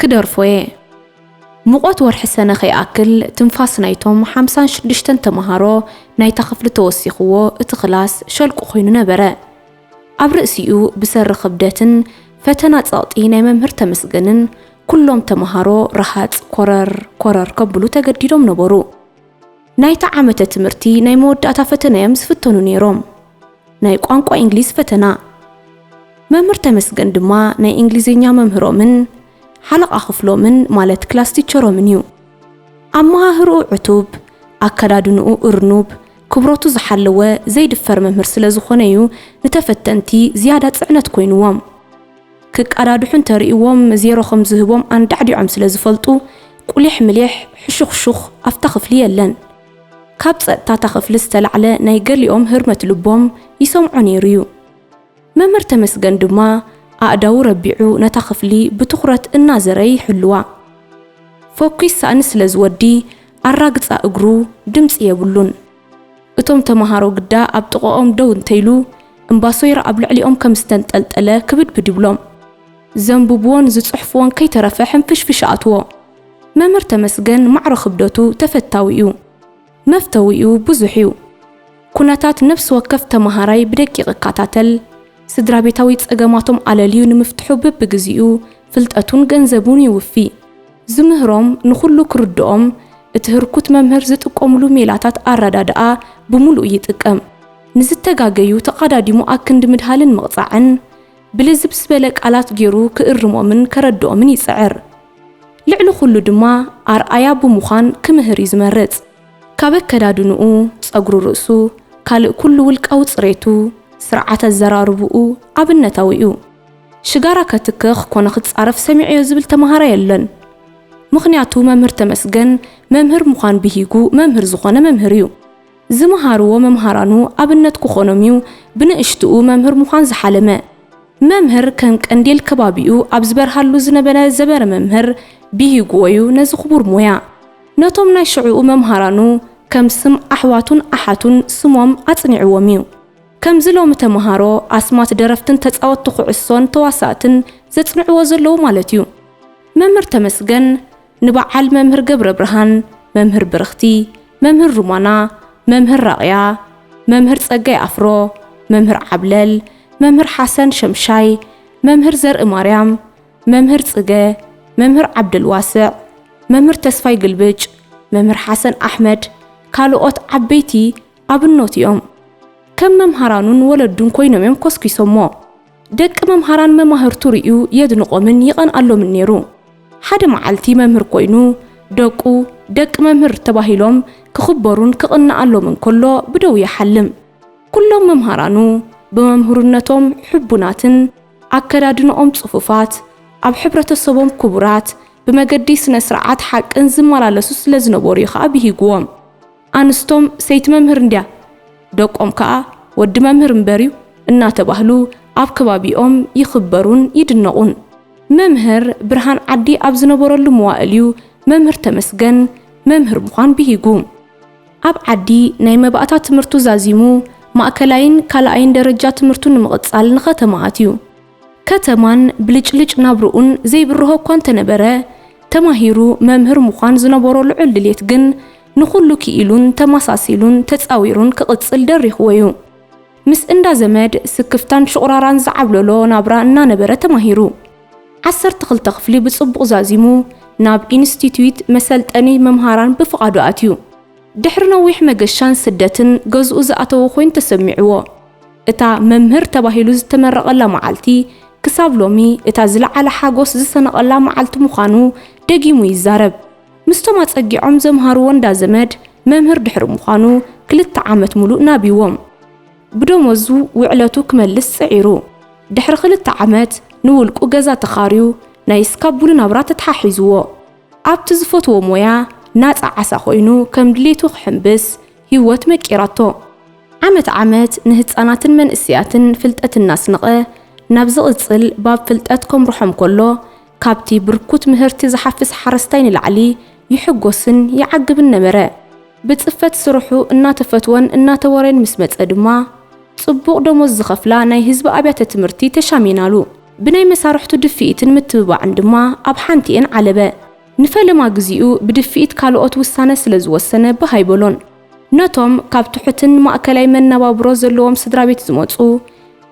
ክደርፎ እየ ሙቐት ወርሒ ሰነ ከይኣክል ትንፋስ ናይቶም ሓምሳን ሽዱሽተን ተምሃሮ ናይታ ክፍሊ ተወሲኽዎ እቲ ክላስ ሸልቁ ኮይኑ ነበረ። ኣብ ርእሲኡ ብሰሪ ክብደትን ፈተና ጸቕጢ ናይ መምህር ተመስገንን ኩሎም ተመሃሮ ረሃጽ ኮረር ኮረር ከብሉ ተገዲዶም ነበሩ። ናይታ ዓመተ ትምህርቲ ናይ መወዳእታ ፈተና'ዮም ዝፍተኑ ነይሮም፣ ናይ ቋንቋ ኢንግሊዝ ፈተና። መምህር ተመስገን ድማ ናይ ኢንግሊዝኛ መምህሮምን ሓለቓ ክፍሎምን ማለት ክላስ ቲቸሮምን'ዩ። ኣመሃህርኡ ዕቱብ፣ ኣከዳድንኡ እርኑብ፣ ክብረቱ ዝሓለወ ዘይድፈር መምህር ስለ ዝኾነ'ዩ ንተፈተንቲ ዝያዳ ጽዕነት ኮይንዎም። ክቀዳድሑ እንተርእይዎም ዜሮ ከም ዝህቦም ኣንዳዕዲዖም ስለ ዝፈልጡ፣ ቁሊሕ ምሊሕ፣ ሕሹኽሹኽ ኣብታ ክፍሊ የለን። ካብ ጸጥታ እታ ክፍሊ ዝተላዕለ ናይ ገሊኦም ህርመት ልቦም ይሰምዖ ነይሩ'ዩ። መምህር ተመስገን ድማ ኣእዳዉ ረቢዑ ነታ ክፍሊ ብትኹረት እናዘረየ ይሕልዋ። ፎኪስ ሳእኒ ስለ ዝወዲ ኣራግጻ እግሩ ድምጺ የብሉን። እቶም ተመሃሮ ግዳ ኣብ ጥቐኦም ደው እንተይሉ እምባሶይራ ኣብ ልዕሊኦም ከም ዝተንጠልጠለ ክብድብድ ይብሎም። ዘንብቡዎን ዝጽሕፉዎን ከይተረፈ ሕንፍሽፍሽ ኣእትዎ። መምህር ተመስገን ማዕረ ክብደቱ ተፈታዊ'ዩ። መፍተዊኡ ብዙሕ እዩ። ኩነታት ነፍሲ ወከፍ ተመሃራይ ብደቂቕ እካታተል፣ ስድራቤታዊ ጸገማቶም ኣለልዩ ንምፍትሑ በብግዚኡ ፍልጠቱን ገንዘቡን ይውፊ። ዝምህሮም ንኹሉ ክርድኦም እቲ ህርኩት መምህር ዝጥቀሙሉ ሜላታት ኣረዳድኣ ብምሉኡ ይጥቀም። ንዝተጋገዩ ተቓዳዲሙ ኣክንዲ ምድሃልን ምቕጻዕን፣ ብልዝብ ዝበለ ቃላት ጌሩ ክእርሞምን ከረድኦምን ይጽዕር። ልዕሊ ኹሉ ድማ ኣርኣያ ብምዃን ክምህር እዩ ዝመርጽ። ካብ ኣከዳድንኡ፣ ጸጉሪ ርእሱ፣ ካልእ ኩሉ ውልቃዊ ጽሬቱ፣ ስርዓት ኣዘራርብኡ ኣብነታዊ እዩ። ሽጋራ ከትክኽ ኮነ ክጻረፍ ሰሚዐዮ ዝብል ተመሃራይ የለን። ምኽንያቱ መምህር ተመስገን መምህር ምዃን ብሂጉ መምህር ዝኾነ መምህር እዩ። ዝመሃርዎ መምሃራኑ ኣብነት ክኾኖም እዩ ብንእሽትኡ መምህር ምዃን ዝሓለመ። መምህር ከም ቀንዴል ከባቢኡ ኣብ ዝበርሃሉ ዝነበረ ዘበረ መምህር ቢሂጉዎ ዩ ነዚ ክቡር ሞያ ነቶም ናይ ሽዕኡ መምሃራኑ ከም ስም ኣሕዋቱን ኣሓቱን ስሞም ኣጽኒዕዎም ዩ። ከምዚ ሎሚ ተመሃሮ ኣስማት ደረፍትን ተጻወቲ ኩዕሶን ተዋሳእትን ዘጽንዕዎ ዘለዉ ማለት ዩ። መምህር ተመስገን ንበዓል መምህር ገብረብርሃን፣ መምህር ብርኽቲ፣ መምህር ሩማና፣ መምህር ራቕያ፣ መምህር ጸጋይ ኣፍሮ፣ መምህር ዓብለል፣ መምህር ሓሰን ሸምሻይ፣ መምህር ዘርእማርያም፣ መምህር ጽገ፣ መምህር ዓብደልዋስዕ፣ መምህር ተስፋይ ግልብጭ፣ መምህር ሓሰን ኣሕመድ ካልኦት ዓበይቲ ኣብኖት'ዮም። ከም መምሃራኑን ወለዱን ኮይኖም'ዮም ኮስኪሶሞ። ደቂ መምሃራን መማህርቱ ርእዩ የድንቖምን ይቐንኣሎምን ነይሩ። ሓደ መዓልቲ መምህር ኮይኑ፣ ደቁ፣ ደቂ መምህር ተባሂሎም ክኽበሩን ክቕነኣሎምን ከሎ ብደው ይሓልም። ኩሎም መምሃራኑ ብመምህርነቶም ሕቡናትን፣ ኣከዳድንኦም ጽፉፋት፣ ኣብ ሕብረተሰቦም ክቡራት፣ ብመገዲ ስነ-ስርዓት ሓቅን ዝመላለሱ ስለዝነበሩ'ዩ ከኣ ብሂግዎም። ኣንስቶም ሰይቲ መምህር እንድያ ደቆም ከኣ ወዲ መምህር እምበር'ዩ እናተባህሉ ኣብ ከባቢኦም ይኽበሩን ይድነቑን። መምህር ብርሃን ዓዲ ኣብ ዝነበረሉ መዋእል'ዩ መምህር ተመስገን መምህር ምዃን ብሂጉ። ኣብ ዓዲ ናይ መባእታ ትምህርቱ ዛዚሙ ማእከላይን ካልኣይን ደረጃ ትምህርቱ ንምቕጻል ንኸተማ ኣትዩ። ከተማን ብልጭልጭ ናብርኡን ዘይብርሆ እኳ እንተነበረ፣ ተማሂሩ መምህር ምዃን ዝነበሮ ልዑል ድሌት ግን ንኹሉ ክኢሉን ተማሳሲሉን ተጻዊሩን ክቕጽል ደሪኽዎ እዩ። ምስ እንዳ ዘመድ ስክፍታን ሽቑራራን ዝዓብለሎ ናብራ እናነበረ ተማሂሩ። ዓሰርተ ክልተ ክፍሊ ብጽቡቕ ዛዚሙ ናብ ኢንስቲትዩት መሰልጠኒ መምሃራን ብፍቓዱ ኣትዩ። ድሕሪ ነዊሕ መገሻን ስደትን ገዝኡ ዝኣተወ ኮይኑ ተሰሚዕዎ። እታ መምህር ተባሂሉ ዝተመረቐላ መዓልቲ ክሳብ ሎሚ እታ ዝለዓለ ሓጎስ ዝሰነቐላ መዓልቲ ምዃኑ ደጊሙ ይዛረብ። ምስቶም ኣጸጊዖም ዘምሃርዎ እንዳ ዘመድ መምህር ድሕሪ ምዃኑ ክልተ ዓመት ምሉእ ናቢዎም። ብደሞዙ ውዕለቱ ክመልስ ጽዒሩ። ድሕሪ ክልተ ዓመት ንውልቁ ገዛ ተኻርዩ ናይ እስካቡሉ ናብራ ተተሓሒዝዎ። ኣብቲ ዝፈትዎ ሞያ ናጻ ዓሳ ኮይኑ ከም ድሌቱ ክሕምብስ ህይወት መቂራቶ። ዓመት ዓመት ንህጻናትን መንእሰያትን ፍልጠት እናስንቐ ናብ ዝቕጽል ባብ ፍልጠት ከምርሖም ከሎ ካብቲ ብርኩት ምህርቲ ዝሓፍስ ሓረስታይ ንላዕሊ ይሕጎስን ይዓግብን ነበረ። ብጽፈት ስርሑ እናተፈትወን እናተወረየን ምስ መጸ ድማ ጽቡቕ ደሞዝ ዝኸፍላ ናይ ህዝቢ ኣብያተ ትምህርቲ ተሻሚናሉ። ብናይ መሳርሕቱ ድፍኢትን ምትብባዕን ድማ ኣብ ሓንቲኤን ዓለበ። ንፈለማ ግዚኡ ብድፍኢት ካልኦት ውሳነ ስለ ዝወሰነ ባህ ኣይበሎን። ነቶም ካብ ትሑትን ማእከላይ መነባብሮ ዘለዎም ስድራቤት ዝመጹ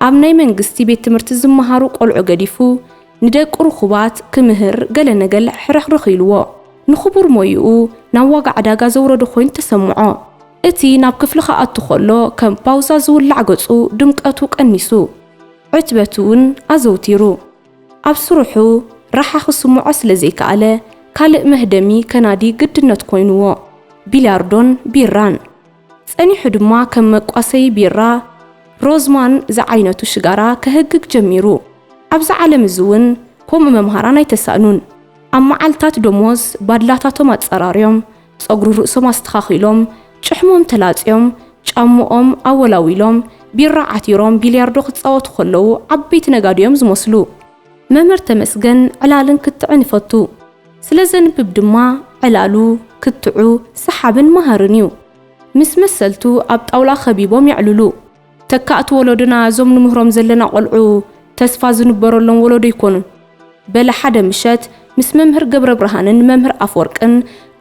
ኣብ ናይ መንግስቲ ቤት ትምህርቲ ዝመሃሩ ቆልዑ ገዲፉ ንደቂ ርኹባት ክምህር ገለ ነገል ሕርኽርኽ ኢሉዎ ንኽቡር ሞይኡ ናብ ዋጋ ዕዳጋ ዘውረዶ ኮይኑ ተሰምዖ። እቲ ናብ ክፍሊ ክኣቱ ከሎ ከም ፓውዛ ዝውላዕ ገጹ ድምቀቱ ቀኒሱ። ዕትበት'ውን ኣዘውቲሩ። ኣብ ስርሑ ራሓ ክስምዖ ስለ ዘይከኣለ ካልእ መህደሚ ከናዲ ግድነት ኮይኑዎ፣ ቢልያርዶን ቢራን። ጸኒሑ ድማ ከም መቋሰዪ ቢራ፣ ሮዝማን ዝዓይነቱ ሽጋራ ከህግግ ጀሚሩ። ኣብዚ ዓለም እዚ'ውን ከምኡ መምሃራን ኣይተሳእኑን። ኣብ መዓልታት ደሞዝ ባድላታቶም ኣጸራርዮም፣ ጸጉሪ ርእሶም ኣስተኻኺሎም፣ ጭሕሞም ተላጽዮም፣ ጫምኦም ኣወላዊሎም፣ ቢራ ዓቲሮም ቢልያርዶ ክጻወቱ ከለዉ ዓበይቲ ነጋዶ'ዮም ዝመስሉ። መምህር ተመስገን ዕላልን ክትዕን ይፈቱ። ስለ ዘንብብ ድማ ዕላሉ፣ ክትዑ፣ ሰሓብን መሃርን እዩ። ምስ መሰልቱ ኣብ ጣውላ ከቢቦም የዕልሉ። ተካእቲ ወሎዶና እዞም ንምህሮም ዘለና ቆልዑ ተስፋ ዝንበረሎም ወሎዶ ይኮኑ። በለ ሓደ ምሸት ምስ መምህር ገብረብርሃንን መምህር ኣፍወርቅን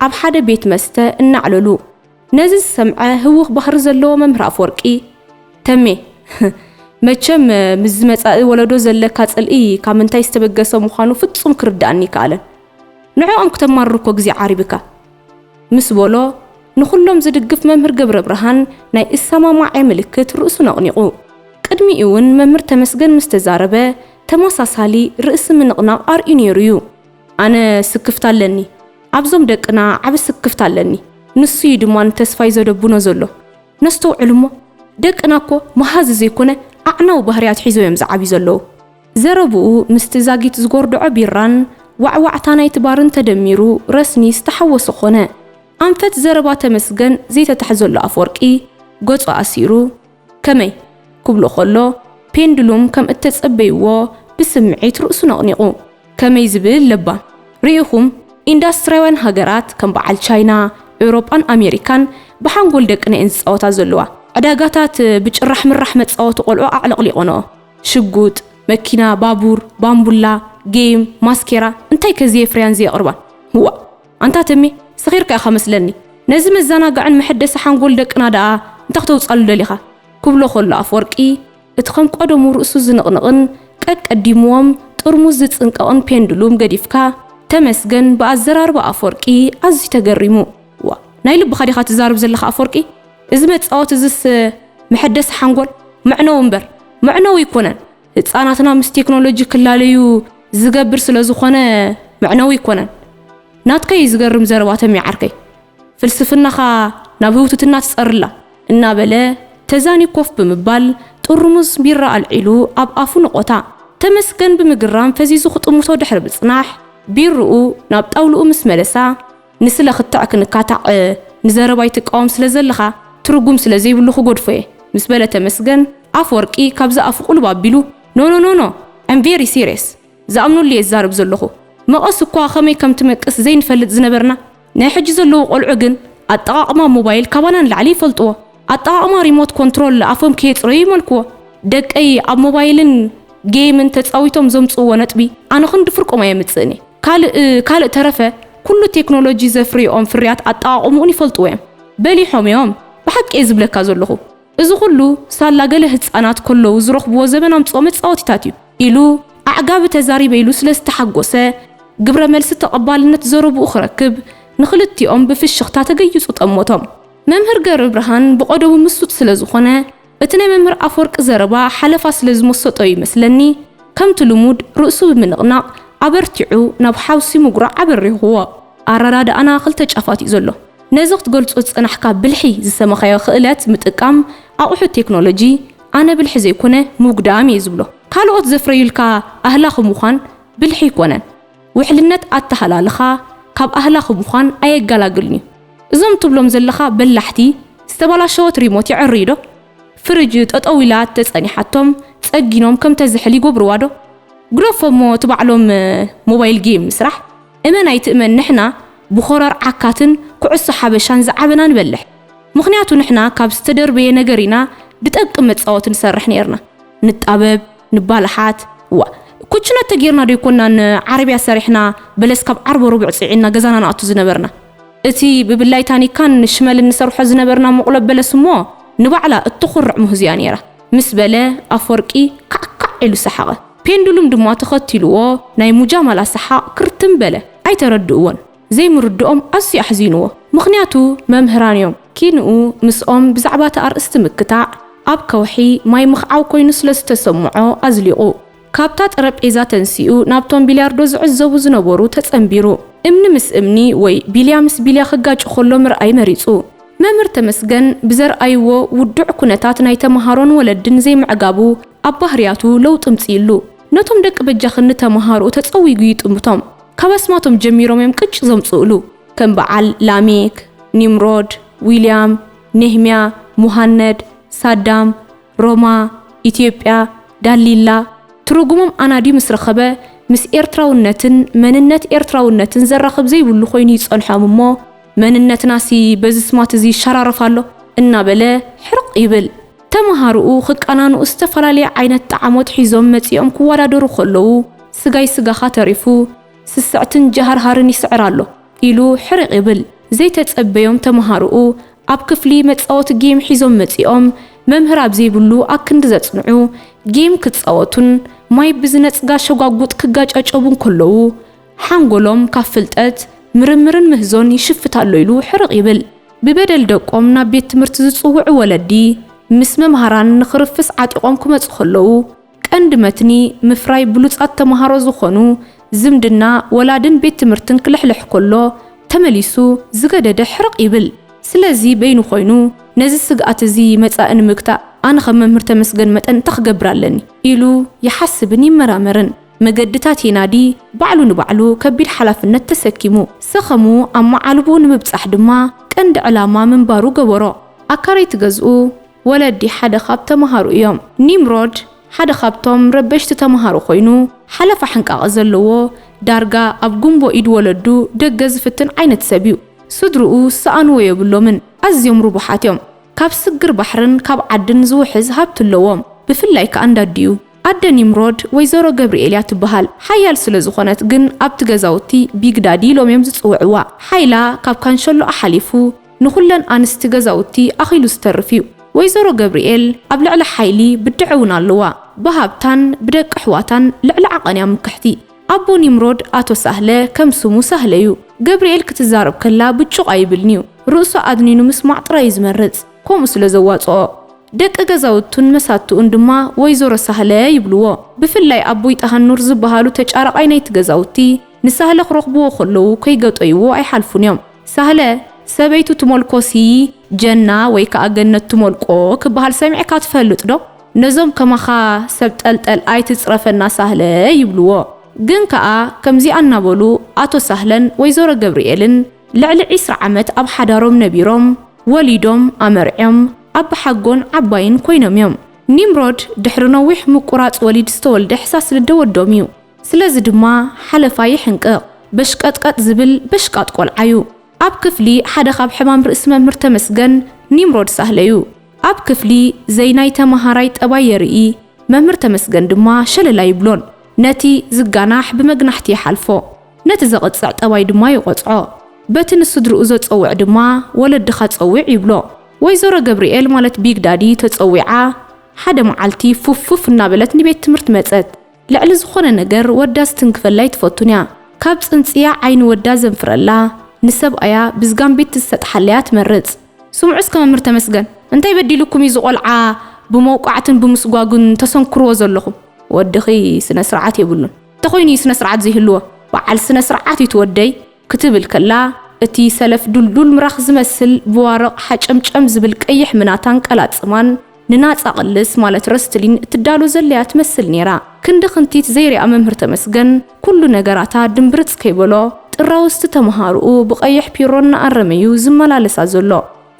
ኣብ ሓደ ቤት መስተ እናዕለሉ። ነዚ ዝሰምዐ ህዉኽ ባህሪ ዘለዎ መምህር ኣፍወርቂ፣ ተሜ፣ መቸም ምስዚ መጻኢ ወሎዶ ዘለካ ጽልኢ ካብ ምንታይ ዝተበገሰ ምዃኑ ፍጹም ክርድኣኒ ኣይከኣለን። ንዕኦም ክተማርር እኮ ግዜ ዓሪብካ። ምስ ቦሎ ንኹሎም ዝድግፍ መምህር ገብረብርሃን ናይ እሳማማዔ ምልክት ርእሱ ነቕኒቑ። ቅድሚኡ'ውን መምህር ተመስገን ምስ ተዛረበ ተመሳሳሊ ርእሲ ምንቕናቕ ኣርእዩ ነይሩ'ዩ። ኣነ ስክፍታ ኣለኒ። ኣብዞም ደቅና ዓቢ ስክፍታ ኣለኒ። ንሱ'ዩ ድማ ንተስፋይ ዘደቡኖ ዘሎ። ነስተውዕል'ሞ ደቅና'ኮ መሃዚ ዘይኮነ ኣዕናዊ ባህርያት ሒዞም'ዮም ዝዓብዩ ዘለዉ። ዘረብኡ ምስቲ ዛጊት ዝጎርደዖ ቢራን ዋዕዋዕታ ናይቲ ባርን ተደሚሩ ረስኒ ዝተሓወሶ ኮነ። ኣንፈት ዘረባ ተመስገን ዘይተታሕዘሉ ኣፍወርቂ ገጹ ኣሲሩ ከመይ? ክብሎ ከሎ ፔንድሉም ከም እተጸበይዎ ብስምዒት ርእሱ ነቕኒቑ። ከመይ ዝብል ለባም! ርኢኹም ኢንዳስትርያውያን ሃገራት ከም በዓል ቻይና፣ ኤውሮጳን ኣሜሪካን ብሓንጎል ደቅነ'የን ዝጻወታ ዘለዋ። ዕዳጋታት ብጭራሕ ምራሕ መጻወቲ ቆልዑ ኣዕለቕሊቖንኦ። ሽጉጥ፣ መኪና፣ ባቡር፣ ባምቡላ፣ ጌይም፣ ማስኬራ እንታይ ከ ዝየፍርያን ዘየቕርባን? እዋእ ኣንታ ተሜ ሰኺርካ ኢኻ መስለኒ ነዚ መዛናግዕን መሐደሲ ሓንጎል ደቅና ደኣ እንታይ ክተውጻሉ ደሊኻ? ክብሎ ከሎ ኣፍወርቂ እቲ ከም ቀደሙ ርእሱ ዝንቕንቕን ቀቀዲምዎም ጥርሙዝ ዝጽንቀቕን ፔንድሉም ገዲፍካ ተመስገን ብኣዘራርባ ኣፍወርቂ ኣዝዩ ተገሪሙ እዋእ ናይ ልብኻ ዲኻ ትዛረብ ዘለኻ ኣፍወርቂ? እዚ መጻወቲ እዝስ መሐደሲ ሓንጎል መዕነዊ እምበር መዕነዊ ኣይኮነን። ህጻናትና ምስ ቴክኖሎጂ ክላለዩ ዝገብር ስለ ዝኾነ መዕነዊ ኣይኮነን። ናትካ እዩ ዝገርም ዘረባ ተሜ ዓርከይ። ፍልስፍናኻ ናብ ህውትትና ትጸርላ። እናበለ ተዛንዩ ኮፍ ብምባል ጥርሙዝ ቢራ ኣልዒሉ ኣብ ኣፉ ነቖታ። ተመስገን ብምግራም ፈዚዙ ክጥምቶ ድሕሪ ምጽናሕ ቢርኡ ናብ ጣውልኡ ምስ መለሳ፣ ንስለ ክትዕ ክንካታዕ ንዘረባይ ትቃወም ስለ ዘለኻ ትርጉም ስለ ዘይብሉ ክጎድፎ እየ ምስ በለ ተመስገን ኣፍወርቂ ካብዛ ኣፉ ቁልብ ኣቢሉ ኖኖኖኖ ኣም ቬሪ ሲርየስ ዝኣምነሉ እየ ዝዛረብ ዘለኹ መቐስ እኳ ከመይ ከም ትመቅስ ዘይንፈልጥ ዝነበርና ናይ ሕጂ ዘለዉ ቆልዑ ግን ኣጠቓቕማ ሞባይል ካባና ንላዕሊ ይፈልጥዎ ኣጠቓቕማ ሪሞት ኮንትሮል ኣፎም ከየጽረዩ ይመልክዎ። ደቀይ ኣብ ሞባይልን ጌይምን ተጻዊቶም ዘምጽእዎ ነጥቢ ኣነ ክንዲ ፍርቆም ኣየምጽእን'የ። ካልእ ካልእ ተረፈ ኩሉ ቴክኖሎጂ ዘፍርይኦም ፍርያት ኣጠቓቕምኡን ይፈልጥዎ'ዮም። በሊሖም'ዮም። ብሓቂ'የ ዝብለካ ዘለኹ። እዚ ኩሉ ሳላ ገለ ህጻናት ከለዉ ዝረኽብዎ ዘበን ኣምጽኦ መጻወቲታት'ዩ። ኢሉ ኣዕጋቢ ተዛሪበ ኢሉ ስለ ዝተሓጎሰ ግብረ መልሲ ተቐባልነት ዘረብኡ ክረክብ ንኽልቲኦም ብፍሽኽታ ተገይጹ ጠመቶም። መምህር ገብረብርሃን ብቐደቡ ምሱጥ ስለዝኾነ እቲ ናይ መምህር ኣፈወርቂ ዘረባ ሓለፋ ስለዝመሰጦ'ዩ ይመስለኒ ከምቲ ልሙድ ርእሱ ብምንቕናቕ ኣበርቲዑ ናብ ሓውሲ ምጉራዕ ኣበሪኹዎ። ኣረዳድኣና ክልተ ጫፋት'ዩ ዘሎ። ነዚ ክትገልጾ ዝጸናሕካ ብልሒ ዝሰመኻዮ ክእለት ምጥቃም ኣቑሑት ቴክኖሎጂ ኣነ ብልሒ ዘይኮነ ምጉዳም'የ ዝብሎ። ካልኦት ዘፍረዩልካ ኣህላኺ ምዃን ብልሒ ኣይኮነን። ውሕልነት ኣተሃላልኻ ካብ ኣህላኺ ምዃን ኣየጋላግልን እዩ። እዞም ትብሎም ዘለኻ በላሕቲ ዝተባላሸወት ሪሞት የዕርዩ ዶ? ፍርጅ ጠጠው ኢላ ተጸኒሓቶም ጸጊኖም ከም ተዝሕል ይጎብርዋ ዶ? ግደፎ እሞ እቲ ባዕሎም ሞባይል ጌም ምስራሕ እመን ኣይትእመን ንሕና ብኾረር ዓካትን ኩዕሶ ሓበሻን ዝዓበና ንበልሕ። ምኽንያቱ ንሕና ካብ ዝተደርበየ ነገር ኢና ብጠንቂ መጻወቲ ንሰርሕ ኔርና። ንጣበብ። ንባልሓት እዋ ኩችና ተጌርና ዶ ኣይኮንና ን ዓረብያ ሰሪሕና በለስ ካብ ዓርቦ ሮቡዕ ጺዒንና ገዛና ንኣቱ ዝነበርና እቲ ብብላይ ታኒካን ሽመልን ንሰርሖ ዝነበርና መቁሎ በለስ እሞ ንባዕላ እተኹርዕ ሙህዝ እያ ነይራ ምስ በለ ኣፎርቂ ካዕ ካዕ ኢሉ ሰሓቐ ፔንዱሉም ድማ ተኸቲልዎ ናይ ሙጃማላ ሰሓቕ ክርትም በለ ኣይተረድእዎን ዘይምርድኦም ኣዝዩ ኣሕዚንዎ ምኽንያቱ መምህራን እዮም ኪንኡ ምስኦም ብዛዕባ እቲ ኣርእስቲ ምክታዕ ኣብ ከውሒ ማይ ምኽዓው ኮይኑ ስለ ዝተሰምዖ ኣዝሊቑ ካብታ ጠረጴዛ ተንሲኡ ናብቶም ቢልያርዶ ዝዕዘቡ ዝነበሩ ተጸንቢሩ እምኒ ምስ እምኒ ወይ ቢልያ ምስ ቢልያ ክጋጩ ከሎ ምርኣይ መሪጹ። መምህር ተመስገን ብዘርኣይዎ ውዱዕ ኩነታት ናይ ተመሃሮን ወለድን ዘይምዕጋቡ ኣብ ባህርያቱ ለውጢ እምጺኡሉ ነቶም ደቂ በጃኽኒ ተመሃሮኡ ተጸዊጉ ይጥምቶም። ካብ ኣስማቶም ጀሚሮም እዮም ቅጭ ዘምጽኡሉ። ከም በዓል ላሜክ፣ ኒምሮድ፣ ዊልያም፣ ኔህምያ፣ ሙሃነድ፣ ሳዳም፣ ሮማ፣ ኢትዮጵያ፣ ዳሊላ፣ ትሩጉሞም ኣናድዩ ምስ ረኸበ ምስ ኤርትራውነትን መንነት ኤርትራውነትን ዘራኽብ ዘይብሉ ኮይኑ እዩ ዝጸንሖም እሞ መንነትናሲ በዚ ስማት እዚ ይሸራረፍ ኣሎ እናበለ ሕርቕ ይብል። ተመሃሮኡ ክቃናንኡ ዝተፈላለየ ዓይነት ጣዕሞት ሒዞም መጺኦም ክወዳደሩ ከለዉ፣ ስጋይ ስጋኻ ተሪፉ፣ ስስዕትን ጀሃርሃርን ይስዕር ኣሎ ኢሉ ሕርቕ ይብል። ዘይተጸበዮም ተመሃሮኡ ኣብ ክፍሊ መጻወቲ ጌም ሒዞም መጺኦም፣ መምህር ኣብ ዘይብሉ ኣክንዲ ዘጽንዑ፣ ጌም ክጻወቱን ማይ ብዝነጽጋ ሸጓጉጥ ክጋጨጨቡን ከለዉ፣ ሓንጎሎም ካብ ፍልጠት፣ ምርምርን ምህዞን ይሽፍት ኣሎ ኢሉ ሕርቕ ይብል። ብበደል ደቆም ናብ ቤት ትምህርቲ ዝጽውዑ ወለዲ፣ ምስ መምሃራን ንኽርፍስ ዓጢቖም ክመጹ ከለዉ፣ ቀንዲ መትኒ ምፍራይ ብሉጻት ተመሃሮ ዝኾኑ፣ ዝምድና ወላድን ቤት ትምህርትን ክልሕልሕ ከሎ ተመሊሱ ዝገደደ ሕርቕ ይብል። ስለዚ በይኑ ኮይኑ ነዚ ስግኣት እዚ መጻኢ ንምግታእ ኣነ ከም መምህር ተመስገን መጠን እንታይ ክገብር ኣለኒ ኢሉ ይሓስብን ይመራመርን። መገድታት የናዲ፣ ባዕሉ ንባዕሉ ከቢድ ሓላፍነት ተሰኪሙ። ሰኸሙ ኣብ መዓልቦኡ ንምብጻሕ ድማ ቀንዲ ዕላማ ምንባሩ ገበሮ። ኣካረይቲ ገዝኡ፣ ወለዲ ሓደ ካብ ተመሃሩ እዮም። ኒምሮድ ሓደ ካብቶም ረበሽቲ ተመሃሮ ኮይኑ፣ ሓለፋ ሕንቃቐ ዘለዎ፣ ዳርጋ ኣብ ጉምቦ ኢድ ወለዱ ደገ ዝፍትን ዓይነት ሰብ እዩ። ስድርኡ ዝሰኣኑዎ የብሎምን፣ ኣዝዮም ርቡሓት እዮም። ካብ ስግር ባሕርን ካብ ዓድን ዝውሕዝ ሃብቲ ኣለዎም፣ ብፍላይ ከኣ እንዳዲኡ። ኣደ ኒምሮድ ወይዘሮ ገብሪኤል እያ ትበሃል። ሓያል ስለ ዝኾነት ግን ኣብቲ ገዛውቲ ቢግ ዳዲ ኢሎም እዮም ዝጽውዕዋ። ሓይላ ካብ ካንሸሎኣ ሓሊፉ ንኹለን ኣንስቲ ገዛውቲ ኣኺሉ ዝተርፍ እዩ። ወይዘሮ ገብሪኤል ኣብ ልዕሊ ሓይሊ ብድዐ እውን ኣለዋ። ብሃብታን ብደቂ ኣሕዋታን ልዕሊ ዓቐን እያ ምክሕቲ። ኣቦ ኒምሮድ ኣቶ ሳህለ ከም ስሙ ሳህለ እዩ። ገብሪኤል ክትዛረብ ከላ ብጩቕ ኣይብልን እዩ። ርእሱ ኣድኒኑ ምስማዕ ጥራይ እዩ ዝመርጽ። ከምኡ ስለ ዘዋጽኦ። ደቂ ገዛውቱን መሳቱኡን ድማ ወይዘሮ ሳህለ ይብልዎ። ብፍላይ ኣቦይ ጠሃኑር ዝበሃሉ ተጫራቓይ ናይቲ ገዛውቲ፣ ንሳህለ ክረኽብዎ ከለዉ ከይገጦይዎ ኣይሓልፉን እዮም። ሳህለ፣ ሰበይቱ ትሞልኮሲ ጀና ወይ ከኣ ገነት ትሞልቆ ክበሃል ሰሚዕካ ትፈልጥ ዶ? ነዞም ከማኻ ሰብ ጠልጠል ኣይትጽረፈና ሳህለ ይብልዎ። ግን ከኣ ከምዚኣ እናበሉ ኣቶ ሳህለን ወይዘሮ ገብርኤልን ልዕሊ ዕስራ ዓመት ኣብ ሓዳሮም ነቢሮም። ወሊዶም ኣመርዕዮም ኣባሓጎን ዓባይን ኮይኖም እዮም። ኒምሮድ ድሕሪ ነዊሕ ምቁራጽ ወሊድ ዝተወልደ ሕሳስልደ ወዶም እዩ። ስለዚ ድማ ሓለፋ ይሕንቅቕ። በሽቀጥቀጥ ዝብል በሽቃጥ ቆልዓ እዩ። ኣብ ክፍሊ ሓደ ካብ ሕማም ርእሲ መምህር ተመስገን ኒምሮድ ሳህለ እዩ። ኣብ ክፍሊ ዘይናይ ተማሃራይ ጠባይ የርኢ መምህር ተመስገን ድማ ሸለል ኣይብሎን ነቲ ዝጋናሕ ብመግናሕቲ ይሓልፎ ነቲ ዘቕጽዕ ጠባይ ድማ ይቖጽዖ። በቲ ንስድርኡ ዘጸውዕ ድማ ወለድኻ ጸዊዕ ይብሎ። ወይዘሮ ገብሪኤል ማለት ቢግ ዳዲ ተጸዊዓ ሓደ መዓልቲ ፉፍ ፉፍ እናበለት ንቤት ትምህርት መጸት። ልዕሊ ዝኾነ ነገር ወዳ ዝትንክፈላ ኣይትፈቱን'ያ። ካብ ጽንጽያ ዓይኒ ወዳ ዘንፍረላ፣ ንሰብኣያ ብዝጋምቢቲ ዝሰጥሓላ'ያ ትመርጽ። ስምዑ እስከ መምህር ተመስገን እንታይ በዲሉኩም እዩ እዚ ቆልዓ ብመውቃዕትን ብምስጓጉን ተሰንክርዎ ዘለኹም? ወድኺ ስነ ስርዓት የብሉን። እንተኾይኑ እዩ ስነ ስርዓት ዘይህልዎ። በዓል ስነ ስርዓት እዩ እቲ ወደይ። ክትብል ከላ፣ እቲ ሰለፍ ዱልዱል ምራኽ ዝመስል ብዋርቕ ሓጨምጨም ዝብል ቀይሕ ምናታን ቀላጽማን፣ ንናጻ ቅልስ ማለት ረስትሊን እትዳሎ ዘላ'ያ ትመስል ነይራ። ክንዲ ክንቲት ዘይርኣ መምህር ተመስገን፣ ኩሉ ነገራታ ድምብርጽ ከይበሎ፣ ጥራውዝቲ ተመሃሮኡ ብቀይሕ ፒሮ እናኣረመ'ዩ ዝመላለሳ ዘሎ።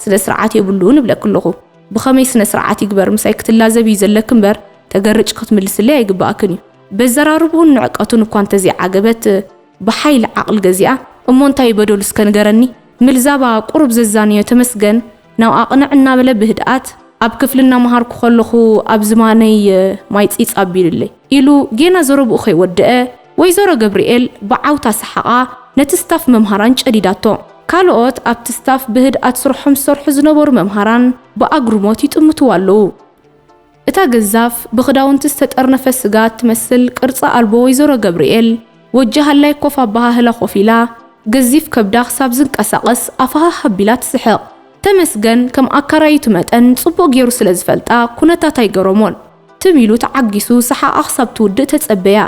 ስነ-ስርዓት የብሉን እብለኪ ኣለኹ። ብኸመይ ስነ-ስርዓት ይግበር ምሳይ ክትላዘቢ'ዩ ዘለኪ እምበር፣ ተገርጭ ክትምልስለይ ኣይግብኣክን'ዩ። በዘራርብኡን ንዕቀቱን እኳ እንተዘይዓገበት፣ ብሓይሊ ዓቕል ገዚኣ እሞ እንታይ ዩ በደሉ እስከ ንገረኒ? ምልዛባ ቁሩብ ዘዛንዮ ተመስገን ናብኣ ቅንዕ እናበለ ብህድኣት ኣብ ክፍሊ እናመሃርኩ ከለኹ ኣብ ዝባነይ ማይ ጺጽ ኣቢሉለይ ኢሉ ጌና ዘረብኡ ከይወደኣ ወይዘሮ ገብሪኤል ብዓውታ ሰሓቓ ነቲ ስታፍ መምሃራን ጨዲዳቶ። ካልኦት ኣብቲ ስታፍ ብህድኣት ስርሖም ዝሰርሑ ዝነበሩ መምሃራን ብኣግርሞት ይጥምትዋ ኣለዉ። እታ ገዛፍ ብኽዳውንቲ ዝተጠርነፈ ስጋ እትመስል ቅርጺ ኣልቦ ወይዘሮ ገብርኤል፣ ወጂ ሃላይ ኮፍ ኣበሃህላ ኮፍ ኢላ፣ ገዚፍ ከብዳ ክሳብ ዝንቀሳቐስ ኣፋህህ ኣቢላ ትስሕቕ። ተመስገን ከም ኣካራይቱ መጠን ጽቡቕ ገይሩ ስለ ዝፈልጣ ኩነታት ኣይገረሞን። ትም ኢሉ ተዓጊሱ ሰሓቓ ክሳብ ትውድእ ተጸበያ።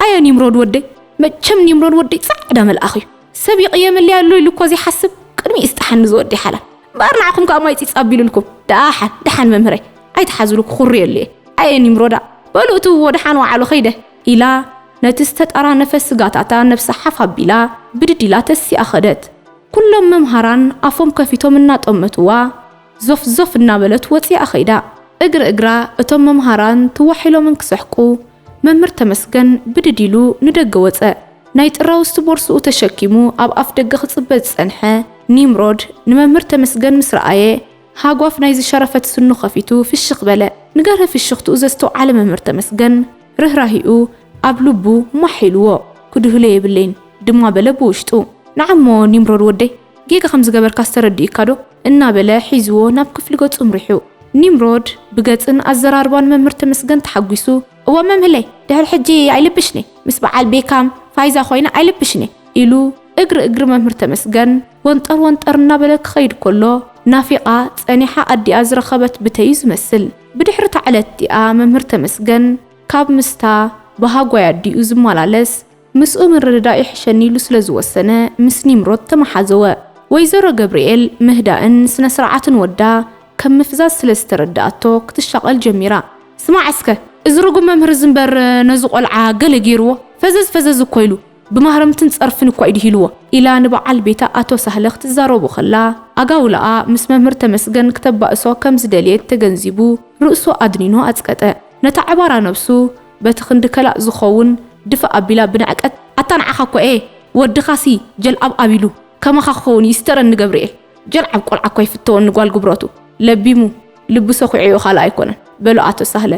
ኣየ ኒምሮድ ወደይ! መቸም ኒምሮድ ወደይ ጻዕዳ መልኣኽ'ዩ። ሰብ ይቕየመለይ ኣሎ ኢሉ እኳ ዘይሓስብ፣ ቅድሚኡ ይስጥሓኒ እዚ ወደይ ሓላል። እምበኣር ንዓኹም ከኣ ማይ ጺጽ ኣቢሉልኩም ደኣሓን ደሓን መምህረይ ኣይትሓዙሉ ክኹርየሉ እየ ኣየ ኒምሮዳ በሉ እትውዎ ደሓን ወዓሉ ከይደ ኢላ ነቲ ዝተጣራነፈ ስጋታታ ነብሳ ሓፍ ኣቢላ ብድድ ኢላ ተሲኣ ከደት ኩሎም መምሃራን ኣፎም ከፊቶም እናጠመትዋ ዞፍ ዞፍ እናበለት ወጺኣ ከይዳ እግሪ እግራ እቶም መምሃራን ትዋሒሎምን ክስሕቁ መምህር ተመስገን ብድድ ኢሉ ንደገ ወጸ። ናይ ጥራውዝቲ ቦርስኡ ተሸኪሙ ኣብ ኣፍደገ ክጽበ ዝጸንሐ ኒምሮድ ንመምህር ተመስገን ምስ ረኣየ ሃጓፍ ናይ ዝሸረፈት ስኑ ከፊቱ ፍሽኽ በለ። ንገርሂ ፍሽኽትኡ ዘስተውዓለ መምህር ተመስገን ርህራሄኡ ኣብ ልቡ ማሕ ኢልዎ። ክድህሎ የብለይን ድማ በለ ብውሽጡ። ንዓሞ ኒምሮድ ወደይ! ጌጋ ከም ዝገበርካስ ተረዲኡካዶ? እናበለ ሒዝዎ ናብ ክፍሊ ገጹ ኣምሪሑ። ኒምሮድ ብገጽን ኣዘራርባን መምህር ተመስገን ተሓጒሱ፣ እወ መምህለይ፣ ድሕሪ ሕጂ ኣይልብሽን'የ፣ ምስ በዓል ቤካም፣ ፋይዛ ኮይነ ኣይልብሽን'የ፣ ኢሉ እግሪ እግሪ መምህር ተመስገን ወንጠር ወንጠር እናበለ ክኸይድ ከሎ፣ ናፊቓ ጸኒሓ ኣዲኣ ዝረኸበት ብተ'ዩ ዝመስል። ብድሕሪ'ታ ዕለት'ቲኣ መምህር ተመስገን ካብ ምስታ ብሃጓይ ኣዲኡ ዝመላለስ፣ ምስኡ ምርድዳእ ይሕሸኒ ኢሉ ስለ ዝወሰነ ምስ ኒምሮድ ተመሓዘወ። ወይዘሮ ገብርኤል ምህዳእን ስነ-ስርዓትን ወዳ ከም ምፍዛዝ ስለ ዝተረድኣቶ ክትሻቐል ጀሚራ። ስማዕ እስከ እዚ ርጉም መምህር እዚ እምበር ነዚ ቖልዓ ገለ ገይርዎ ፈዘዝ ፈዘዝ እኮ ኢሉ ብማህረምትን ጸርፍን እኳ እዩ ድሂልዎ ኢላ ንበዓል ቤታ ኣቶ ሳህለ ክትዛረቦ ከላ ኣጋውላኣ ምስ መምህር ተመስገን ክተባእሶ ከም ዝደልየት ተገንዚቡ ርእሱ ኣድኒኑ ኣጽቀጠ። ነታ ዕባራ ነብሱ በቲ ክንዲ ከላእ ዝኸውን ድፍእ ኣቢላ ብንዕቀት፣ ኣታ ንዓኻ እኳ እየ ወድኻሲ ጀልዓብ ኣቢሉ ከማኻ ክኸውን ይስተረኒ ገብርኤል ጀልዓብ ቆልዓ እኳ ይፍተወኒ ጓል ጉብረቱ ለቢሙ ልቡ ሰዂዑዮ ካልእ ኣይኮነን በሎ ኣቶ ሳህለ